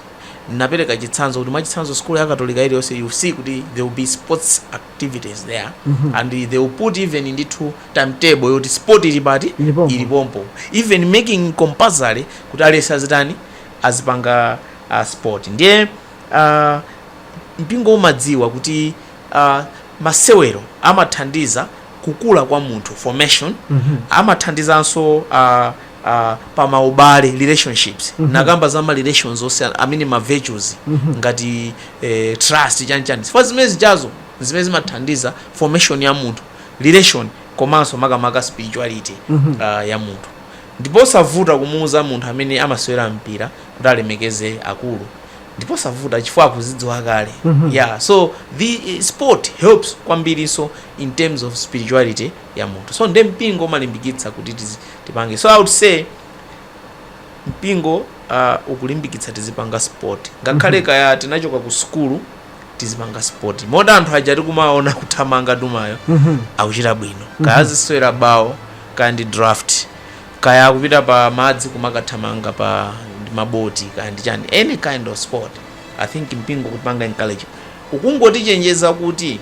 napereka chitsanzo kuti mwachitsanzo skulu ya katolika iliyonse you see kuti there will be sports activities there and they will put even ndithu timetable yoti sport ili pati Ili pompo. ili pompo even making compulsory kuti aliyense azitani azipanga uh, sport ndiye uh, mpingo umadziwa kuti a Masewero amathandiza kukula kwa munthu, formation, amathandizanso a a pa maubale, relationships, ndinakamba za ma relations onse amene ma virtues ngati eh, trust chani chani chifukwa zimene zijazo zimene zimathandiza formation ya munthu relation komanso makamaka spirituality ah, ya munthu ndipo savuta kumuuza munthu amene amasewera mpira kuti alemekeze akulu ndipo savuta chifukwa akuzidziwa kale mm -hmm. yeah so the eh, sport helps kwambirinso in terms of spirituality ya munthu so nde mpingo umalimbikitsa kuti tipange so i would say mpingo uh, ukulimbikitsa tizipanga sport ngakhale mm -hmm. kaya tinachoka ku sukulu tizipanga sport moti anthu aja akumaona kuthamanga dumayo mm -hmm. akuchita bwino kaya mhm. azisewera bawo kaya ndi draft Kaya kupita pa madzi kumakathamanga pa ndi ma boti kaya ndi chani any kind of sport I think mpingo ukutipanga encourage ukungotichenjeza kuti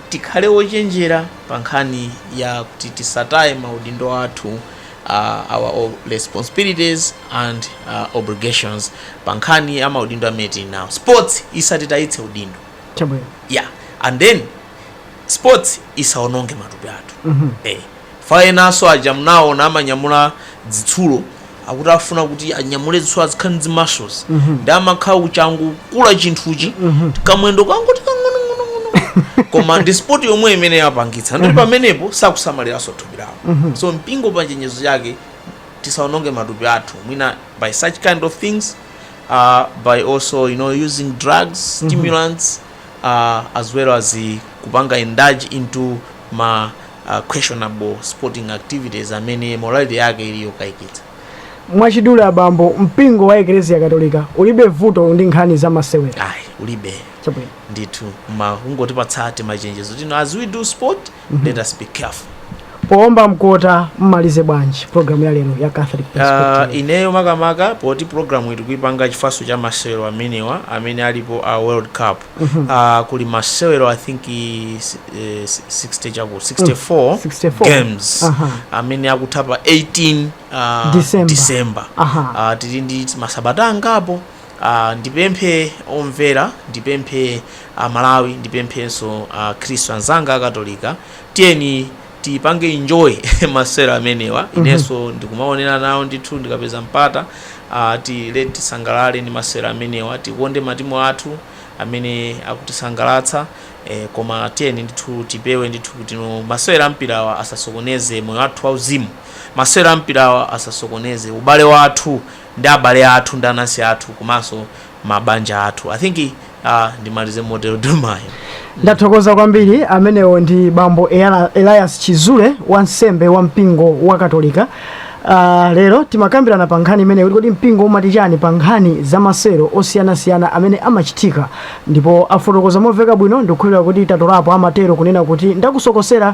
tikhale ochenjera pa nkhani ya kuti tisataye ma udindo athu our responsibilities and obligations pa nkhani ya ma udindo amene tili nawo sports isatitayitse udindo Chabwino. yeah and then. sports isaononge matupi athu eh chifukwa enanso aja mnaona amanyamula dzitsulo akuti afuna kuti anyamule dzitsulo azikhala ndi zi muscles ndi amakhala kuchangokula chinthuchi kamwendo kangoti kang'onong'onong'ono koma ndi sport yomwe imene yapangitsa nde pamenepo sakusamaliranso thupi lawo so mpingo pa chenjezo chake tisaononge matupi athu mwina by such kind of things uh, by also you know using drugs stimulants uh, as well as kupanga indulge into ma uh, questionable sporting activities amene morality yake ili yokaikitsa mwachidule abambo mpingo wa eklesia katolika ulibe vuto ndi nkhani za masewera ayi ulibe Chabwino. ndithu koma kungotipatsa timachenjezo tino as we do sport Mhm. Let us be careful. Poomba mkota mumaliza bwanji program ya lero ya Catholic ah, Perspective. Uh, ineyo makamaka poti program iyi tikuipanga chifukwanso cha masewero amenewa amene alipo a uh, World Cup. Mm -hmm. uh, kuli masewero I think is, eh, 60 chakuti 64, mm, 64 games uh -huh. amene akutha pa 18 uh, December. December. Uh -huh. uh, tili ndi masabata angapo Aaa ndipemphe omvera ndipemphe a Malawi ndipemphenso akhristu anzanga akatolika tiyeni tipange enjoy masewero amenewa inenso ndikumaonera nawo ndithu ndikapeza mpata aa tiyeni tisangalale ndi masewero amenewa tikonde matimu athu amene akutisangalatsa eh, koma tiyeni ndithu tipewe ndithu kuti no masewero ampirawa asasokoneze moyo wathu wauzimu masewero ampirawa asasokoneze ubale wathu ndi abale athu ndi anansi athu komanso mabanja athu i think uh, ndimalize motero Dumayo ndathokoza kwambiri amenewo ndi bambo Eyala- elias chizule wansembe wa mpingo wa katolika Uh, lero timakambirana pa nkhani imeneyi kuti kodi mpingo umati chani pa nkhani za masewero osiyanasiyana amene amachitika ndipo afotokoza momveka bwino ndikukhulupirira kuti tatolapo amatero kunena kuti ndakusokosera